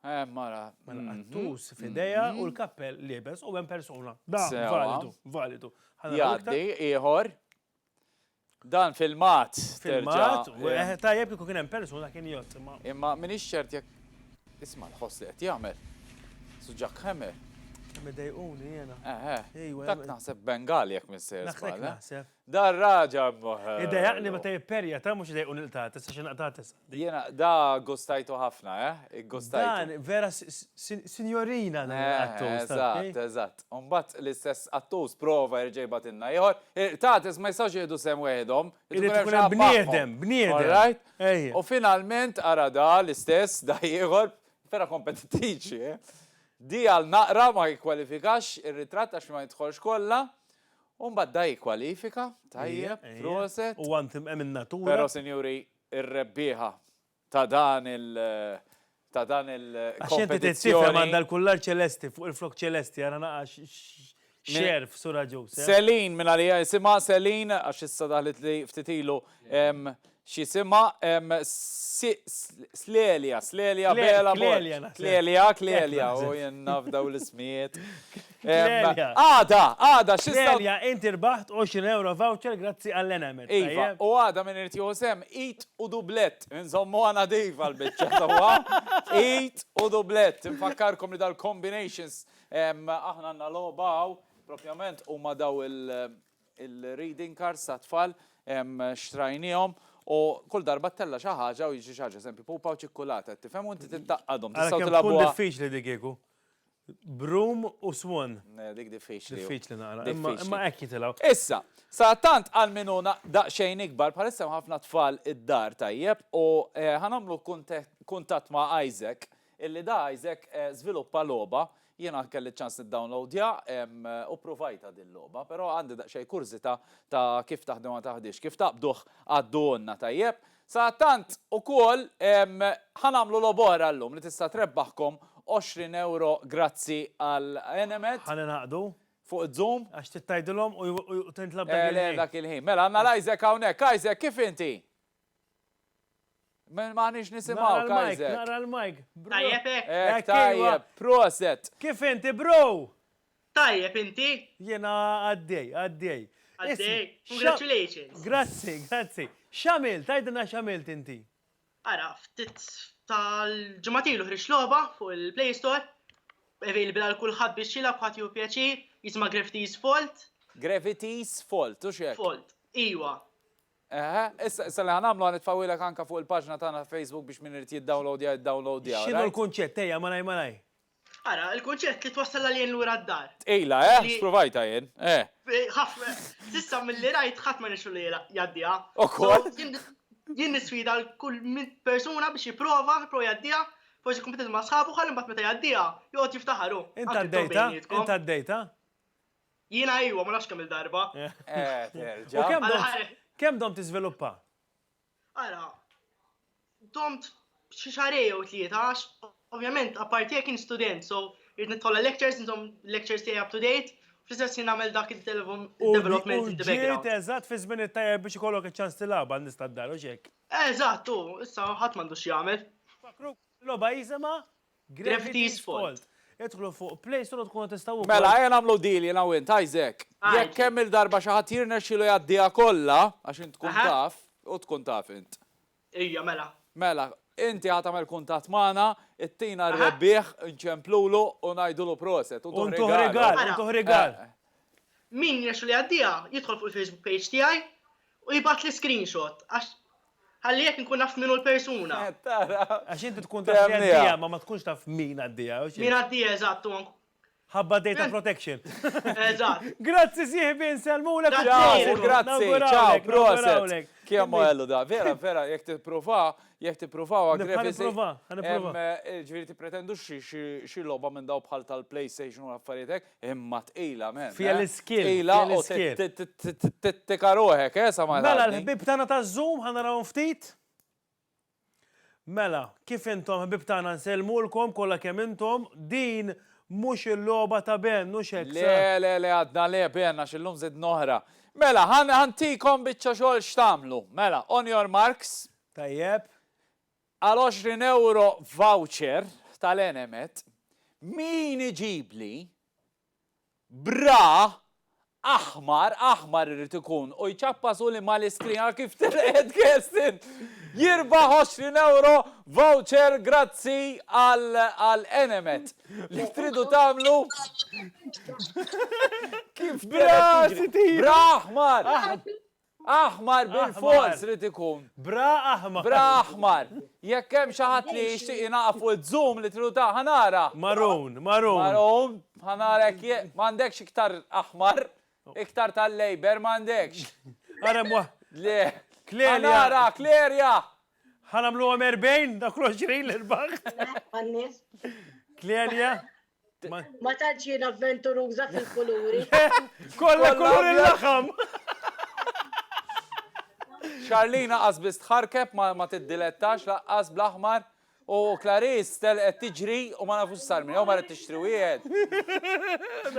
Eh, mara. Mela, mhm. għattus fideja mhm. u l-kappell libes u għem persona. Da, validu, validu. Jaddi, iħor. Dan filmat. Filmat, u eh. Eh, tajjeb kiku kien hemm persuna kien jott. Imma min ċert jekk isma' l-ħoss li qed jagħmel. Suġak ħemer. Midejquni jena. Eħe. Dak naħseb Bengali jekk missier. Naħseb. Dar raġa mh. Idejaq li meta jipperja ta' mhux idejqu nilqtgħa tisa' xi naqtgħa tisa'. Jiena da gustajtu ħafna eh, iggustajtu. Dan vera sinjorina dan il-qattus ta' Eżatt, kif. eżatt. U mbagħad l-istess qattus prova jerġa' jibgħatilna ieħor. Il-qtates ma jistgħux jieħdu sehem weħidhom, irid ikun hemm xi ħadd magħhom. Irid ikun hemm bniedem, bniedem. Alright? Ejja. U finalment ara da l-istess, da ieħor, vera kompetittiċi eh. Di għal naqra ma jikkwalifikax ir-ritratt għax ma jidħolx kollha U mbagħad da jikkwalifika, tajjeb, proset. Huwa mtimqen min-natura. Però sinjuri, ir-rebbieħa ta' dan il ta' dan il kompetizzjoni. Għax inti trid tifhem għandha l-kullar ċelesti fuq il-flokk ċelesti ara naqa' x'għerf Sur Agius. Celine mingħalija jisimha, Celine għax issa daħlitli ftit ilu, X'isimha? Clelia, Clelia, Bela, Clelia, Clelia, Clelia, u jien naf dawn l-ismijiet. Għada, għada, xi sab. Clelia, inti rbaħt 20 ewro voucher grazzi għall-Enemed. Iva, u għada min irid jieħu sehem, għid u dublett, inżommuha nadifa l-biċċa sewwa, għid u dublett. Infakkarkom li dal-combinations aħna għandna logħba hawn, propjament huma dawn il-reading cards tat-tfal xtrajniehom u kull darba ttella' xi ħaġa u jiġri xi ħaġa, eżempju pupa u ċikkulata, qed tifhem, u inti tittaqqadhom, tistgħu tilgħabuha. Tkun diffiċli dik kieku. Broom u swan. Dik diffiċli. Diffiċli naqra. Imma hekk jitilgħu. Issa, sadattant għal min hu daqsxejn ikbar, bħalissa hemm ħafna tfal id-dar tajjeb u ħanagħmlu kuntatt ma' Isaac, illi da Isaac żviluppa logħba Jiena kelli ċ-ċans niddownloadja u ppruvajtha din logħba, però għandi daqsxejn kurżità ta' kif taħdem u ma taħdix. Kif taqbduh għadduhulna tajjeb. Sadattant ukoll ħa nagħmlu logħba oħra llum li tista' trebbaħkom 20 ewro grazzi għal Enemed. Ħa ningħaqdu. Fuq iż-Zoom. Għax trid tgħidilhom u tintlab dak il-ħin. Le, le, dak il-ħin. Mela għandna l-Isaac hawnhekk. Isaac, kif inti? Men maħnix nisimaw, Kaiser. Nara l-mike. Tajjeb, ek. Ek, tajjeb, proset. Kif inti, bro? Tajjeb, inti? Jena għaddej, għaddej. Għaddej, congratulations. Grazzi, grazzi. Xamil, tajdina xamil inti? Ara, ftit tal-ġematilu ħriġ loba fuq il-Play Store, available għal kulħadd biex jilab ħadd jew pjaċir, jisma' Gravity's Fault. Gravity's Fault, u xek? Fault, iwa. Eħe, issa, issa li ħa nagħmlu ħa nitfgħuhielek anke fuq il-paġna tagħna ta' Facebook biex min irid jiddownloadja jiddownloadja. X'inhu l-kunċett, ejja, malajr malajr. Ara, il-kunċett li twassal l-aljien lura d-dar. Tqila, eh? Sppruvajtha jien, eh. Ħafna, s'issa milli rajt ħadd ma rnexxielu jgħaddiha. Ukoll? Jien nisfida lil kull persuna biex jipprova, jipprova jgħaddiha, forsi jkun kompetitiv ma' sħabu ħalli mbagħad meta jgħaddiha joqgħod jiftaħar hu. Int għaddejtha? Int għaddejtha? Jiena iwa, ma nafx kemm il-darba. Kemm dom tiżviluppa? Ara, domt xi xarej jew tlieta għax ovvjament apparti jekk kien student, so irid nitħolla lectures, intom lectures tiegħi up to date, fl-istess jien nagħmel dak il-development in the background. Ġiet eżatt fi żmien it-tajjeb biex ikollok iċ-ċans tilgħabha n-nies tad-dar, u x'hekk? Eżatt, u issa ħadd m'għandux x'jagħmel. Fakru logħba jisimha Gravity's Fault. Idħlu fuq Play Store u tkunu tistgħu wkoll. Mela, ejja nagħmlu deal jiena u int, Isaac. Jekk kemm il-darba xi ħadd jirnexxielu jgħaddiha kollha, għax int tkun taf, u tkun taf int. Ejja, mela. Mela, inti ħa tagħmel kuntatt magħna, ittina r-rebbieħ, inċemplulu u ngħidulu proset, u ntuh rigal. U ntuh rigal, u ntuh rigal. Min jirnexxielu jgħaddiha, jidħol fuq il-Facebook page tiegħi u jibgħatli screenshot, għax Ħalli jekk nkun naf min hu l-persuna. Tara. Għax inti tkun taf li għaddieha, ma ma tkunx taf min għaddieha. Min għaddieha, eżatt, u ank. Ħabba data protection. Eżatt. Grazzi sieħbi, nsellmulek u Grazzi, grazzi, ciao, proset. Kemm għallu da, vera, vera, jekk tippruvaha, jekk tippruvaha għagrefi. Għan nipprova, għan nipprova. Ġifieri tippretendu xi logħba minn daw bħal tal-PlayStation u l-affarijietek. Imma tqila men. eh. Fiha l-iskil, Tqila fiha u l-iskil. t- t- t- t- tittika ruħek, eh, sa ma Mela tgħaddi. l-ħbieb tagħna taż-Zoom ħa narahom ftit. Mela, kif intom ħbieb tagħna nsellmulkom kollha kemm intom, din mhux il-logħba ta' Ben, mhux hekk. Le, sa- le, le, għadna le, benna xillum zid noħra. Mela, ħan ħantikom biċċa xogħol x'tamlu. Mela, on your marks, Tajjeb. Għal 20 ewro voucher tal-Enemed, min iġibli bra aħmar, aħmar irid ikun, u jċappasu li mal-iskrin, ara kif telqet Kerstin! jirbaħ 20 ewro voucher grazzi għal Enemed. Li tridu tagħmlu kif telqet tiġri. Bra aħmar! Aħmar bilfors irid ikun. Bra aħmar. Bra aħmar. Jekk hemm xi ħadd li jixtieq jingħaqad fuq iz-zoom li tridu ta' ħa nara. Maroon, maroon. Maroon, ħa nara jekk je, m'għandekx iktar aħmar? Iktar tal-Labour m'għandekx? Ara hemm waħ. Le. Clelia. Ħa nara, Clelia! Ħa nagħmluhom 40, dak l-20 li rbaħt. Clelia. Ma tantx jien avventuruża fil-kuluri. Kollha kulur il-laħam. Charlina qasbis tħarkeb ma tiddilettax laqqas bl-aħmar u Clarice tel qed tiġri u ma nafux sar minn jew ma qed tixtri wieħed.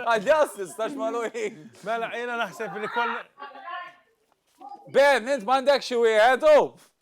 Għal jassis tax maluħin. Mela jiena naħseb li kollha. Ben, int m'għandek xi wieħed u?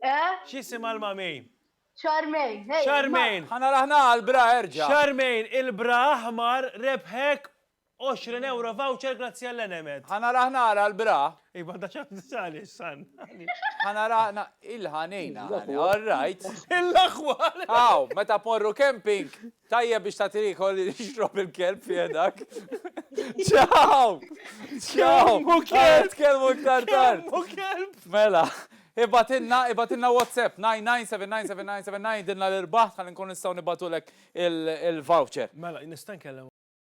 Eh? X'jisimha l-mami? Charmaine, ejja. Charmaine. Ħa naraħ nagħal bra erġa'. Charmaine, il-bra aħmar rebħek 20 ewro voucher grazzi għall-Enemed. Ħa naraħ nagħal għall-bra. Iva, da ċab nisali, san. Ħa naraħ na il-ħanejna. All right. Il-laħwar. Aw, meta morru camping, Tajjeb biex tagħti l-ikol li jixrob il-kelb fi jedak. Ċaw! Ċaw! Kelmu kelb! Kelmu iktar tard! Kelmu kelb! Mela, ibatinna, ibatinna WhatsApp 997999 dinna l-irbaħ ħalli nkun nistgħu nibatulek il-voucher. Mela, nista' nkellem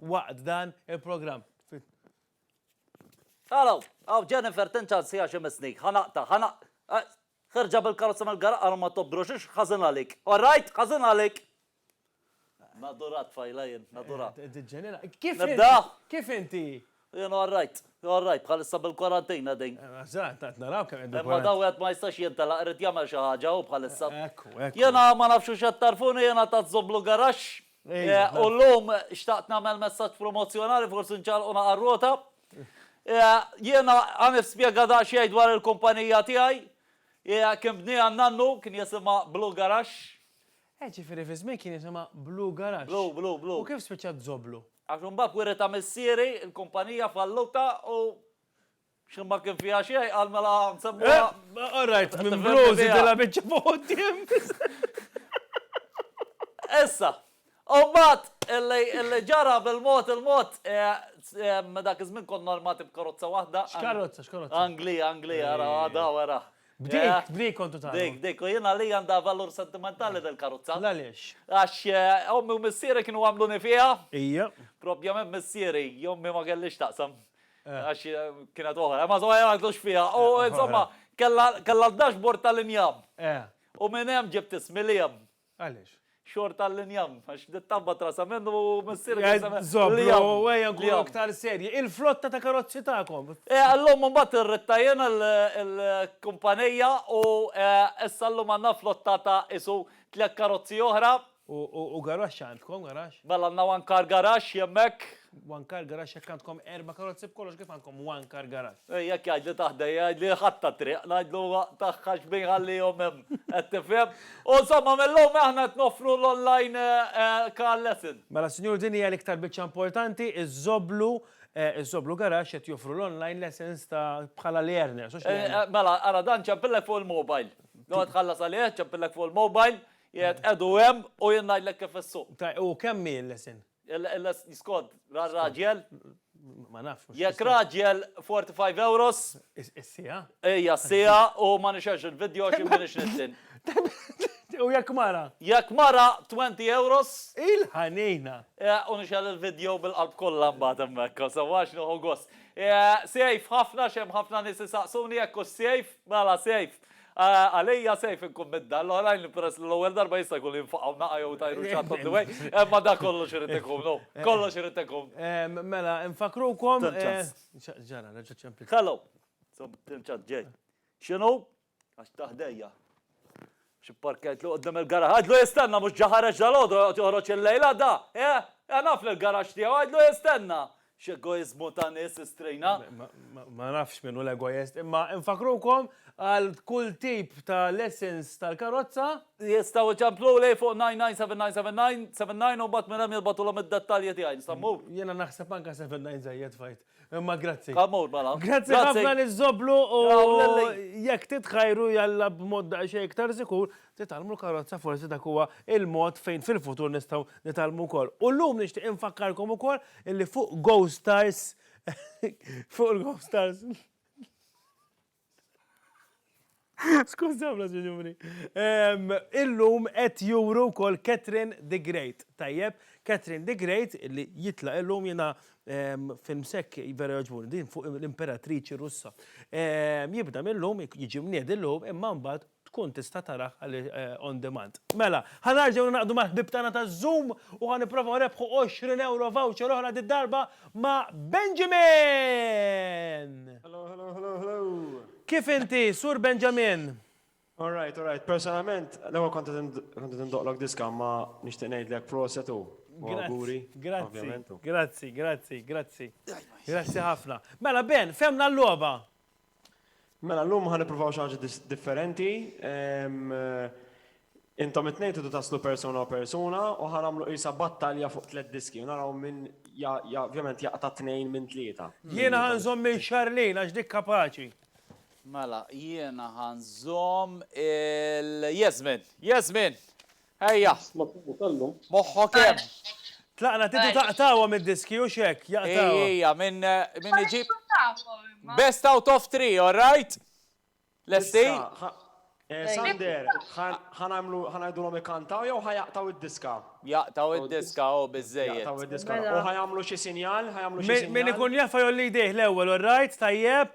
waqt dan il-programm. Hello, għaw Jennifer tinċan sija xi misnik, ħanaqta, ħanaq. Eh, ħerġa bil-karozza mill-gara għalu ma tobdru xiex, ħazin għalik. Alright, ħazin għalik. Nadura tfajla jien, nadura. Eh, eh, Kif inti? Kif inti? Jien all right, all right, bħalissa bil-kwarantin qegħdin. Eżatt, qed naraw kemm qegħdin. Imma daw wieħed ma jistax jintelaq, irid jagħmel xi ħaġa hu bħalissa. Ekku, ekku. Jiena ma nafx hux qed tagħrfuni, jiena ta' Żoblu Garaxx. U llum xtaqt nagħmel messaġġ promozzjonali, forsi nċarrqu naqa' r-rota. Jiena ħa nispjega daqsxejn dwar il-kumpanija tiegħi. Kien bnieha n-nannu, kien jisimha Blue Garaxx. Ġifieri fiż-żmien kien jisimha Blue Garaxx. Blue, Blue, Blue. U kif spiċċat Żoblu? Għax imbagħad wiri ta' missieri, il-kumpanija falluta u xi ma kien fiha xejn qal mela nsemmuha. Eh, all right, minn blu żidilha biċċa fuq quddiem. Issa, u mbagħad illi ġara bil-mod il-mod eh, eh, dak iż-żmien konna armati b'karozza waħda. X'karozza, x'karozza? Anglija, Anglija, ara, għada, ara. B'dik, b'dik kontu tagħmlu. Dik, dik, u jien għalija għandha valur sentimentali dil-karozza. L-għaliex? Għax ommi u missieri kienu għamluni fiha. Ija. Propjament missieri, ommi ma kellhiex x'taqsam. Għax kienet oħra, imma żomma jien ma għidlux fiha. U insomma, kellha d-dashboard tal-injam. U minn hemm ġibt ismi Liam. Għaliex? Xorta l-injam, għax dit-tabba trasa minn u missir trasa minn. Zobro, għeja nkun aktar serji. Il-flotta ta' karozzi tagħkom. Għallum mbagħad irridta jien il-kumpanija u issa llum għandna flotta ta' qisu tliet karozzi oħra. U garaxx għandkom, garaxx? Mela għandna one car garage hemmhekk. One car garage jekk għandkom erba' karozzi b'kollox kif għandkom one car garage? Jekk jgħidli ta' ħdejja jgħidli ħadd tat-triq ngħidlu tagħha x'bin jħallihom hemm qed tifhem? U insomma mill-lum aħna qed noffru l-online car lesson. Mela sinjur din hija l-iktar biċċa importanti, iż-Żoblu, iż-Żoblu Garage qed joffru l-online lessons ta' bħala l-earners, hux l-earner. Mela ara dan ċempillek fuq il-mobile. Jew qed tħallas għalih, ċempillek fuq il-mobile, qiegħed qegħdu hemm u jien ngħidlek kif issuq. Tajjeb u kemm hi l-lesson? Skont, ra r-raġel? Ma nafx. Jekk raġel 45 euros. Is-siegħa? Ejja, s-siegħa u ma nixerx il-video għax m'iniex nixtieq. U jekk mara? Jekk mara 20 euros. Il-ħanina! U nixer il-video bil-qalb kollha mbagħad hemmhekk għax sewwa għax nieħu gost. Safe ħafna għax hemm ħafna nies isaqsuni jekk hux safe, mela safe. Għalija sejf inkun minn dan l-oħrajn li peress li l-ewwel darba jista' jkun li jinfaqgħu naqa' jew jtajru xi ħadd on the way, imma dak kollox irid ikun hu. Kollox irid ikun. Mela, infakkrukom. Till ċans. X'ġara, reġgħet ċempli. Hello! Till ċans ġej. X'inhu? Għax ta' ħdejja. Xi parkett li quddiem il-garaxx. Għidlu jistenna mhux ġa ħareġ dalgħodu joqgħod joħroġ il-lejl għadha! Eħ! Eħ naf li l-garaxx tiegħu, għidlu jistenna! X'egoiżmu ta' nies istrejna! Ma nafx min hu l-egoist, imma nfakkrukom għal kull tip ta' lessons tal-karozza. Jistgħu jċempluli fuq 997997 u mbagħad minn hemm jibgħatulhom id-dettalji tiegħi. Nista' mmur? Jiena naħseb anke 79 żejjed f'għid. Imma grazzi. Ħa mmur mela. Grazzi ħafna liż-Żoblu u jekk titħajru jalla b'mod daqsxejn iktar sikur, Nitgħallmu l-karozza forsi dak huwa l-mod fejn fil-futur nistgħu nitgħallmu wkoll. U llum nixtieq infakkarkom ukoll illi fuq Go Stars fuq il-Go Stars Skużawna, sinjuri. Ehm, illum qed juru wkoll Catherine the Great. Tajjeb, Catherine the Great li jitla' illum jiena ehm, film sekk vera joġbuni din fuq l-imperatriċi Russa. Ehm, jibda mill-lum jiġi mnied illum imma mbagħad tkun tista' tarah on demand. Mela, ħa nerġgħu ningħaqdu mal-ħbieb tagħna ta' Zoom u ħa nipprovaw nerbħu għoxrin ewro voucher oħra did-darba ma' Benjamin! Hello, hello, hello, hello! Kif inti, Sur Benjamin? All right, all right. Personalment, l-ewwel kont qed indoqlok diska imma nixtieq ngħidlek proset u awguri. Grazzi, grazzi, grazzi, grazzi. Grazzi ħafna. Mela Ben, fehmna l-logħba! Mela llum ħa nippruvaw xi ħaġa differenti. Intom it-tnejn tridu taslu persuna u persuna u ħa nagħmlu qisha battalja fuq tliet diski u naraw min ovvjament jaqta' tnejn minn tlieta. Jiena ħa nżomm lil Charlene għax dik kapaċi. Mela jiena ħa nżomm 'l Yasmin. Yasmin! Ejja! Moħħok hemm! Tlaqna Titu taqtgħuha mid-diski hux hekk? Jaqtgħuha. Ejja, min min iġib Best out of three, all right? Lesti? Sander, ħa nagħmlu ħa ngħidulhom ikkantaw jew ħa jaqtgħu d-diska? Jaqtgħu d-diska hu biżżejjed. Jaqtgħu d-diska. U ħa jagħmlu xi sinjal? Ħa jagħmlu xi sinjal? Min ikun jaf ħa jgħolli jdejh l-ewwel, all right? Tajjeb?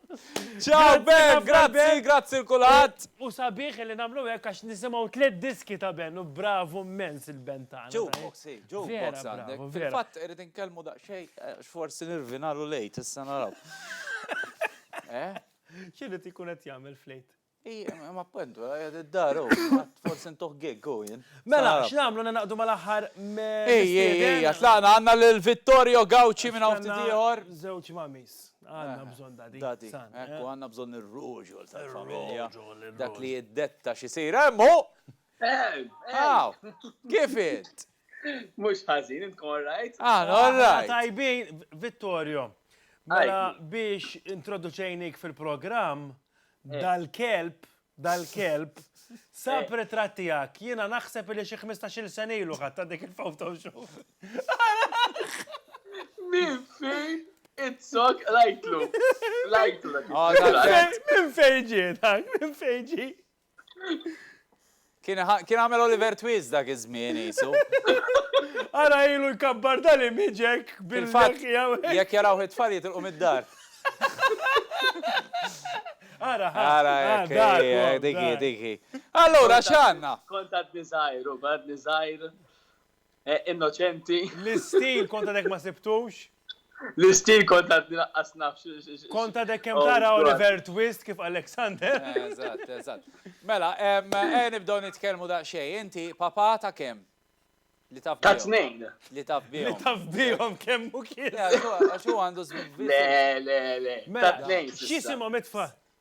Ciao Ben, grazzi, grazzi l-kulħadd. U sabiħ li nagħmlu hekk għax nisimgħu tliet diski ta' Ben u bravu mmens il-Ben tagħna. Jukebox, hi, jukebox għandek. Fil-fatt irid inkellmu daqsxejn għax forsi nirvinalu l-Għid, issa naraw. X'irid ikun qed jagħmel fl-Għid? Ija, ma appuntu, għed id-dar, u, forse intuħ gig, u jien. Mela, x'namlu nenaqdu mal-aħħar me. Ej, ej, ej, tlaqna għanna l-Vittorio Gauci minn għawt tiħor. Zewċ mamis, għanna bżon dadi. Dadi, ekku, għanna bżon il-ruġu tal-familja. Dak li jiddetta xisir, emmu! Għaw, kif int? Mux ħazin, int all right? Ah, all right. Tajbin, Vittorio, mela biex introduċejnik fil-programm, Dal-kelb, dal-kelb, sab ritratt tiegħek, jiena naħseb li xi 15-il sena ilu ħadta dik il-Photoshop. Min fejn itzok rajtlu. Rajtlu. Min fejn ġie dak, min fejn ġie. Kien kien għamel Oliver Twist dak iż-żmien qisu. Ara ilu jkabbar dal-imieġek bil-fatt jekk jarawh it-tfal jitilqu mid-dar. Ara ha. Ara hekk hi, dik hi, dik hi. Allura x'għandna? Kont għadni żgħir u għadni żgħir Eh, innoċenti. L-istil konta dek ma sibtux? L-istil konta naqqas nafx. Konta dek kem oh, tara Oliver Twist kif Alexander. Eżatt, eżatt. Mela, eh, nibdew nitkellmu daqsxejn. Inti papa ta' kem? Li taf Ta' tnejn. Li taf bihom. Li taf bihom kemm u kien. Għax hu għandu żmien. Le, le, le. Ta' mela, tnejn. X'isimhom itfa'?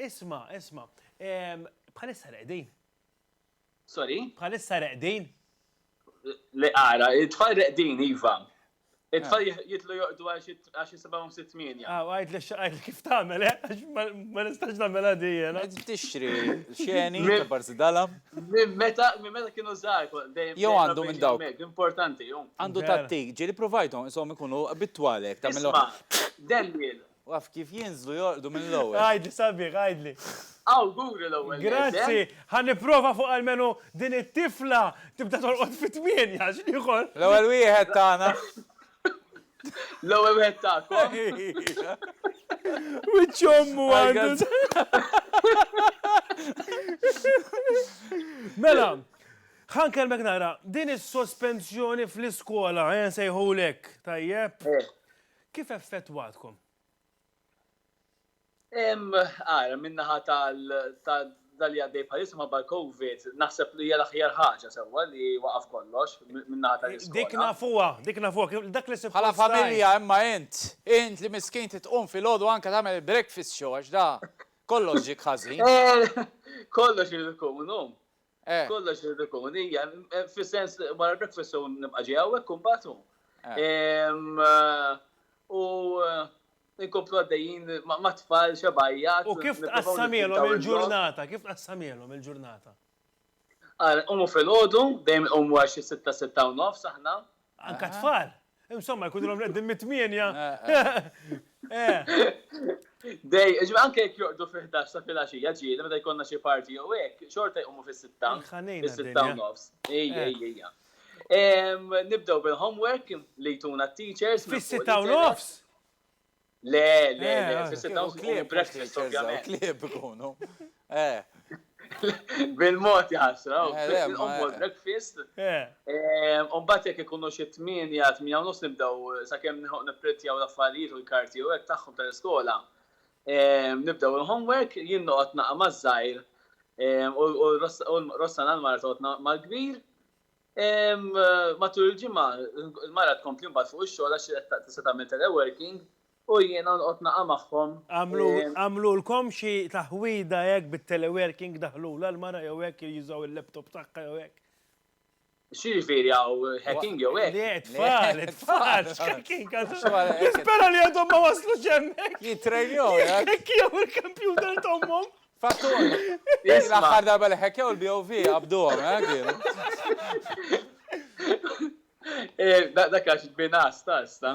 Isma', isma', bħalissa reqdin. Sorry? Bħalissa reqdin. Le ara, it-tfal reqdin, Iva. It-tfal ah. jitlu joqdu għax jisibawhom sitt minja. Ah, għajt li xaqajt kif tagħmel, eh? Għax ma nistax nagħmel għadija. Għajt tixtri xeni, barzi dala. Minn meta, minn meta kienu żgħar, dejjem. Jew għandu minn dawk. Importanti, jom. Għandu tattik, ġieli provajtom, isom ikunu bitwalek, tagħmilhom. Daniel, U af kif jinżlu jorqdu mill-ewwel. Għidli sabiħ, għidli. Awguri l-ewwel nett. Grazzi, ħa nipprova fuq almenu din it-tifla tibda torqod fit-tmienja għax l-ieħor. L-ewwel wieħed tagħna. L-ewwel wieħed tagħkom. Wiċċ ommu għandu. Mela, ħa nkellmek nara, din is-sospensjoni fl-iskola, ejja nsejħulek, tajjeb? Kif effettwatkom? Ara, min-naħa tal-dak li għaddej bħalissa minħabba l-Covid, naħseb li hija l-aħjar ħaġa sewwa li waqaf kollox min-naħa tal-iskola. Dik nafuha, dik nafuha, dak li suppost. Bħala familja imma int, int li miskin trid tqum filgħodu anke tagħmel il-breakfast show għax da kollox ġiek ħażin. Kollox irid iqum inqum. Eh. Kollox irid ikun, hija, fis-sens wara breakfast u nibqa' ġej hawnhekk u mbagħad u. Eh. U inkomplu għaddejjin ma' tfal xebajja. U kif tqassamielhom il-ġurnata? Kif tqassamielhom il-ġurnata? Ara, nqumu filgħodu, dejjem inqumu għal xi sitta, sitta u nofs aħna, Anka tfal. Insomma, jkunilhom reddin mit-tmienja. Dej, ġibha anke jekk joqdu fi 11 ta' filgħaxija ġieli meta jkollna xi parti jew hekk, xorta jqumu fis-sitta. Fis-sitta u nofs. Ejja, ejja. Nibdew bil-homework li jtuna t-teachers. Fis-sitta u nofs? Le, le, le, eh, fis-sit dawns ikunu breakfast, ovvjament. Klib ikunu. Eh. Bil-mod jasra, bil-mod breakfast. Umbat jek ikunu xie tminja, tminja u nus nibdaw, sa' kem niprintjaw l-affarijiet u l-karti u għek taħħom tal-iskola. Nibdaw il-homework, jien noqgħod naqa' maż-żgħir u Rossana l-mara toqgħod mal-kbir. Matul il-ġimgħa l-mara tkompli mbagħad fuq ix-xogħol għax hi qed tista' tagħmel teleworking u jiena noqgħod naqa' magħhom. Għamlulkom xi taħwida hekk bit-teleworking daħħlulha l-mara jew hekk jew jużaw il-laptop tagħha jew hekk? X'jiġifieri hawn hacking jew hekk? Le t-tfal, it-tfal x'hacking għadhom. Nispera li għadhom ma waslux hemmhekk. Jittrejnjaw hekk. Jihekkijaw il-kompjuter t'ommhom Fattur! Din l-aħħar darba li ħekkew il-BOV qabduhom, eh, kienu. Eh, da- Dak għax binas ta' sta.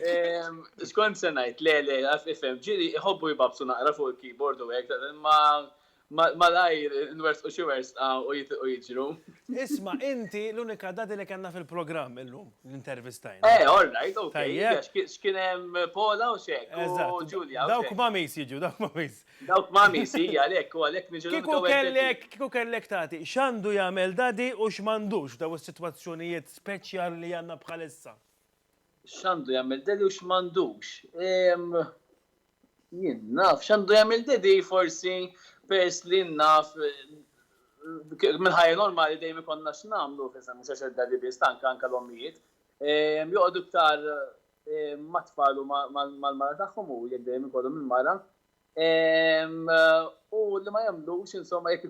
Ehm, Xkont se ngħid, le le, għaf ifhem, ġiri iħobbu jbabsu naqra fuq il-keyboard u hekk, ta- ma ma- malajr nwersqu xi wersqa u jitilqu jiġru. Isma', inti l-unika dadi li kellna fil-programm illum li intervistajna. Eh, all right, ok, Tajjeb. għax ki- x'kien hemm Paula u xek, u Eżatt. Julia u Dawk xek. mamis jiġu, dawk mamis. Dawk Mummy, si, għalhekk, u għalhekk niġu l-unika u hekk Daddy. Kieku kellek tagħti x'għandu jagħmel Daddy u x'm'għandux f'dawn is-sitwazzjonijiet speċjali li għandna bħalissa? X'għandu jagħmel Daddy u x'm'għandux? Ehm, jien naf x'għandu jagħmel Daddy forsi peress li naf mill-ħajja normali dejjem ikollna x'nagħmlu, mhux għax Daddy biss, anke l-ommijiet, ehm, joqogħdu iktar mat-tfal u mal-mara tagħhom u jekk dejjem ikollhom il-mara. U li ma jagħmlux insomma jekk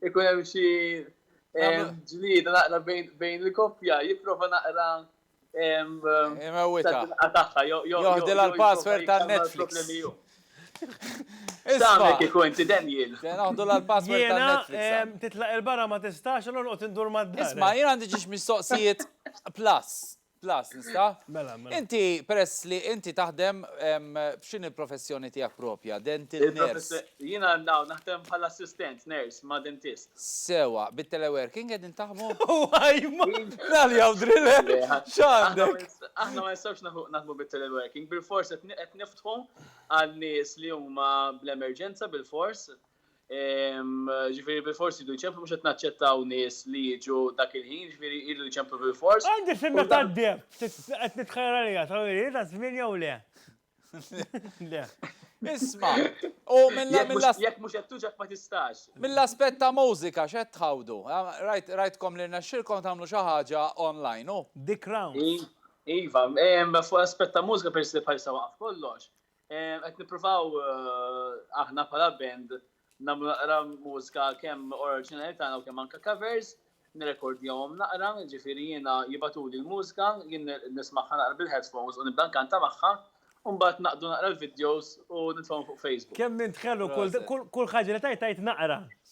ikun hemm xi ġlieda naqra bejn il-koppja jipprova naqra Imewita. Joħdi l-password ta' Netflix. Isma' kieku inti Daniel. Noħdu l-password ta' Netflix. Titlaq il-barra ma tistax, allora noqgħod indur mad-dar. Isma' jien għandi ġiex mistoqsijiet plus. Plus, nista'? Mela, mela. Inti peress li inti taħdem b'x'inhi l-professjoni tiegħek propja? Dental nurse. Jiena naw naħdem bħala assistent nurse ma' dentist. Sewa, bit-teleworking qegħdin taħdmu? Waj, ma nali hawn driller. X'għandek? Aħna ma nistgħux naħdmu bit-teleworking, bilfors qed niftħu għal nies li huma bl-emerġenza bilfors, Ġifiri bil-forsi du jċemplu mux naċċettaw nis li jġu dak il-ħin, ġifiri jridu jċemplu bil-fors. Għandi fimma ta' d-deb, għet nitħajr għalija, ta' għalija, ta' zmin jew le. Le. Isma, u minna minna. Jek mux għettu ġak ma tistax. Minna aspet ta' mużika, xed tħawdu. Rajtkom li naxxilkom tamlu xaħġa online, u? Dik round. Iva, fuq aspet ta' mużika, per se bħal sawa kollox. Qed nippruvaw aħna bħala band nagħmlu naqra mużika kemm oriġinali tagħna u kemm anke covers, nirrekordjahom naqra, jiġifieri jiena jibgħatuli l-mużika, jien nismagħha naqra bil-headphones u nibda nkanta magħha, u mbagħad naqdu naqra l-videos u nitfgħuhom fuq Facebook. Kemm int ħelu, kull ħaġa li tgħid tgħid naqra.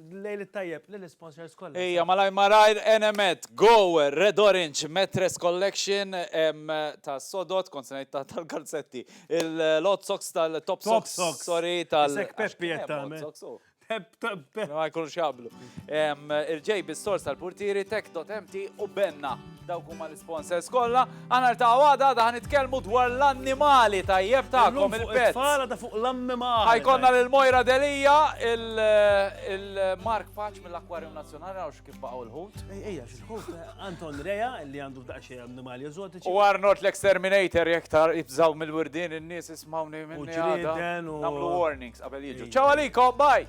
Lejl it-tajjeb lil isponsors kollha. Ejja malajr malajr Enemed, Go, Red Orange, Mattress Collection tas-sodod, kont se ngħid tal-kalzetti, il-Hot Socks tal-Top Socks, sorry, tal-. Isek Peppi qed tagħmel. Hot Socks hu. Ma jkunux jaqblu. Il-JB Stores tal-Purtieri, Tech.MT u Benna. Dawk huma l-isponsors kollha, għana ta' għada għada ħanitkellmu dwar l-annimali tajjeb tagħkom il-pet. Fala ta' fuq l-annimali. Ħajkonna lil Mojra Delija, il-Mark Paċ mill-Akwarju Nazzjonali għax kif baqgħu l-ħut. Ejja, x'ħut eh, Anton Rea li għandu daqxie annimali eżotiċi. U Arnold l-Exterminator jekk tar ibżaw mill-wirdin in-nies ismawni minni għada. Namlu warnings qabel jiġu. Ċaw għalikom, bye!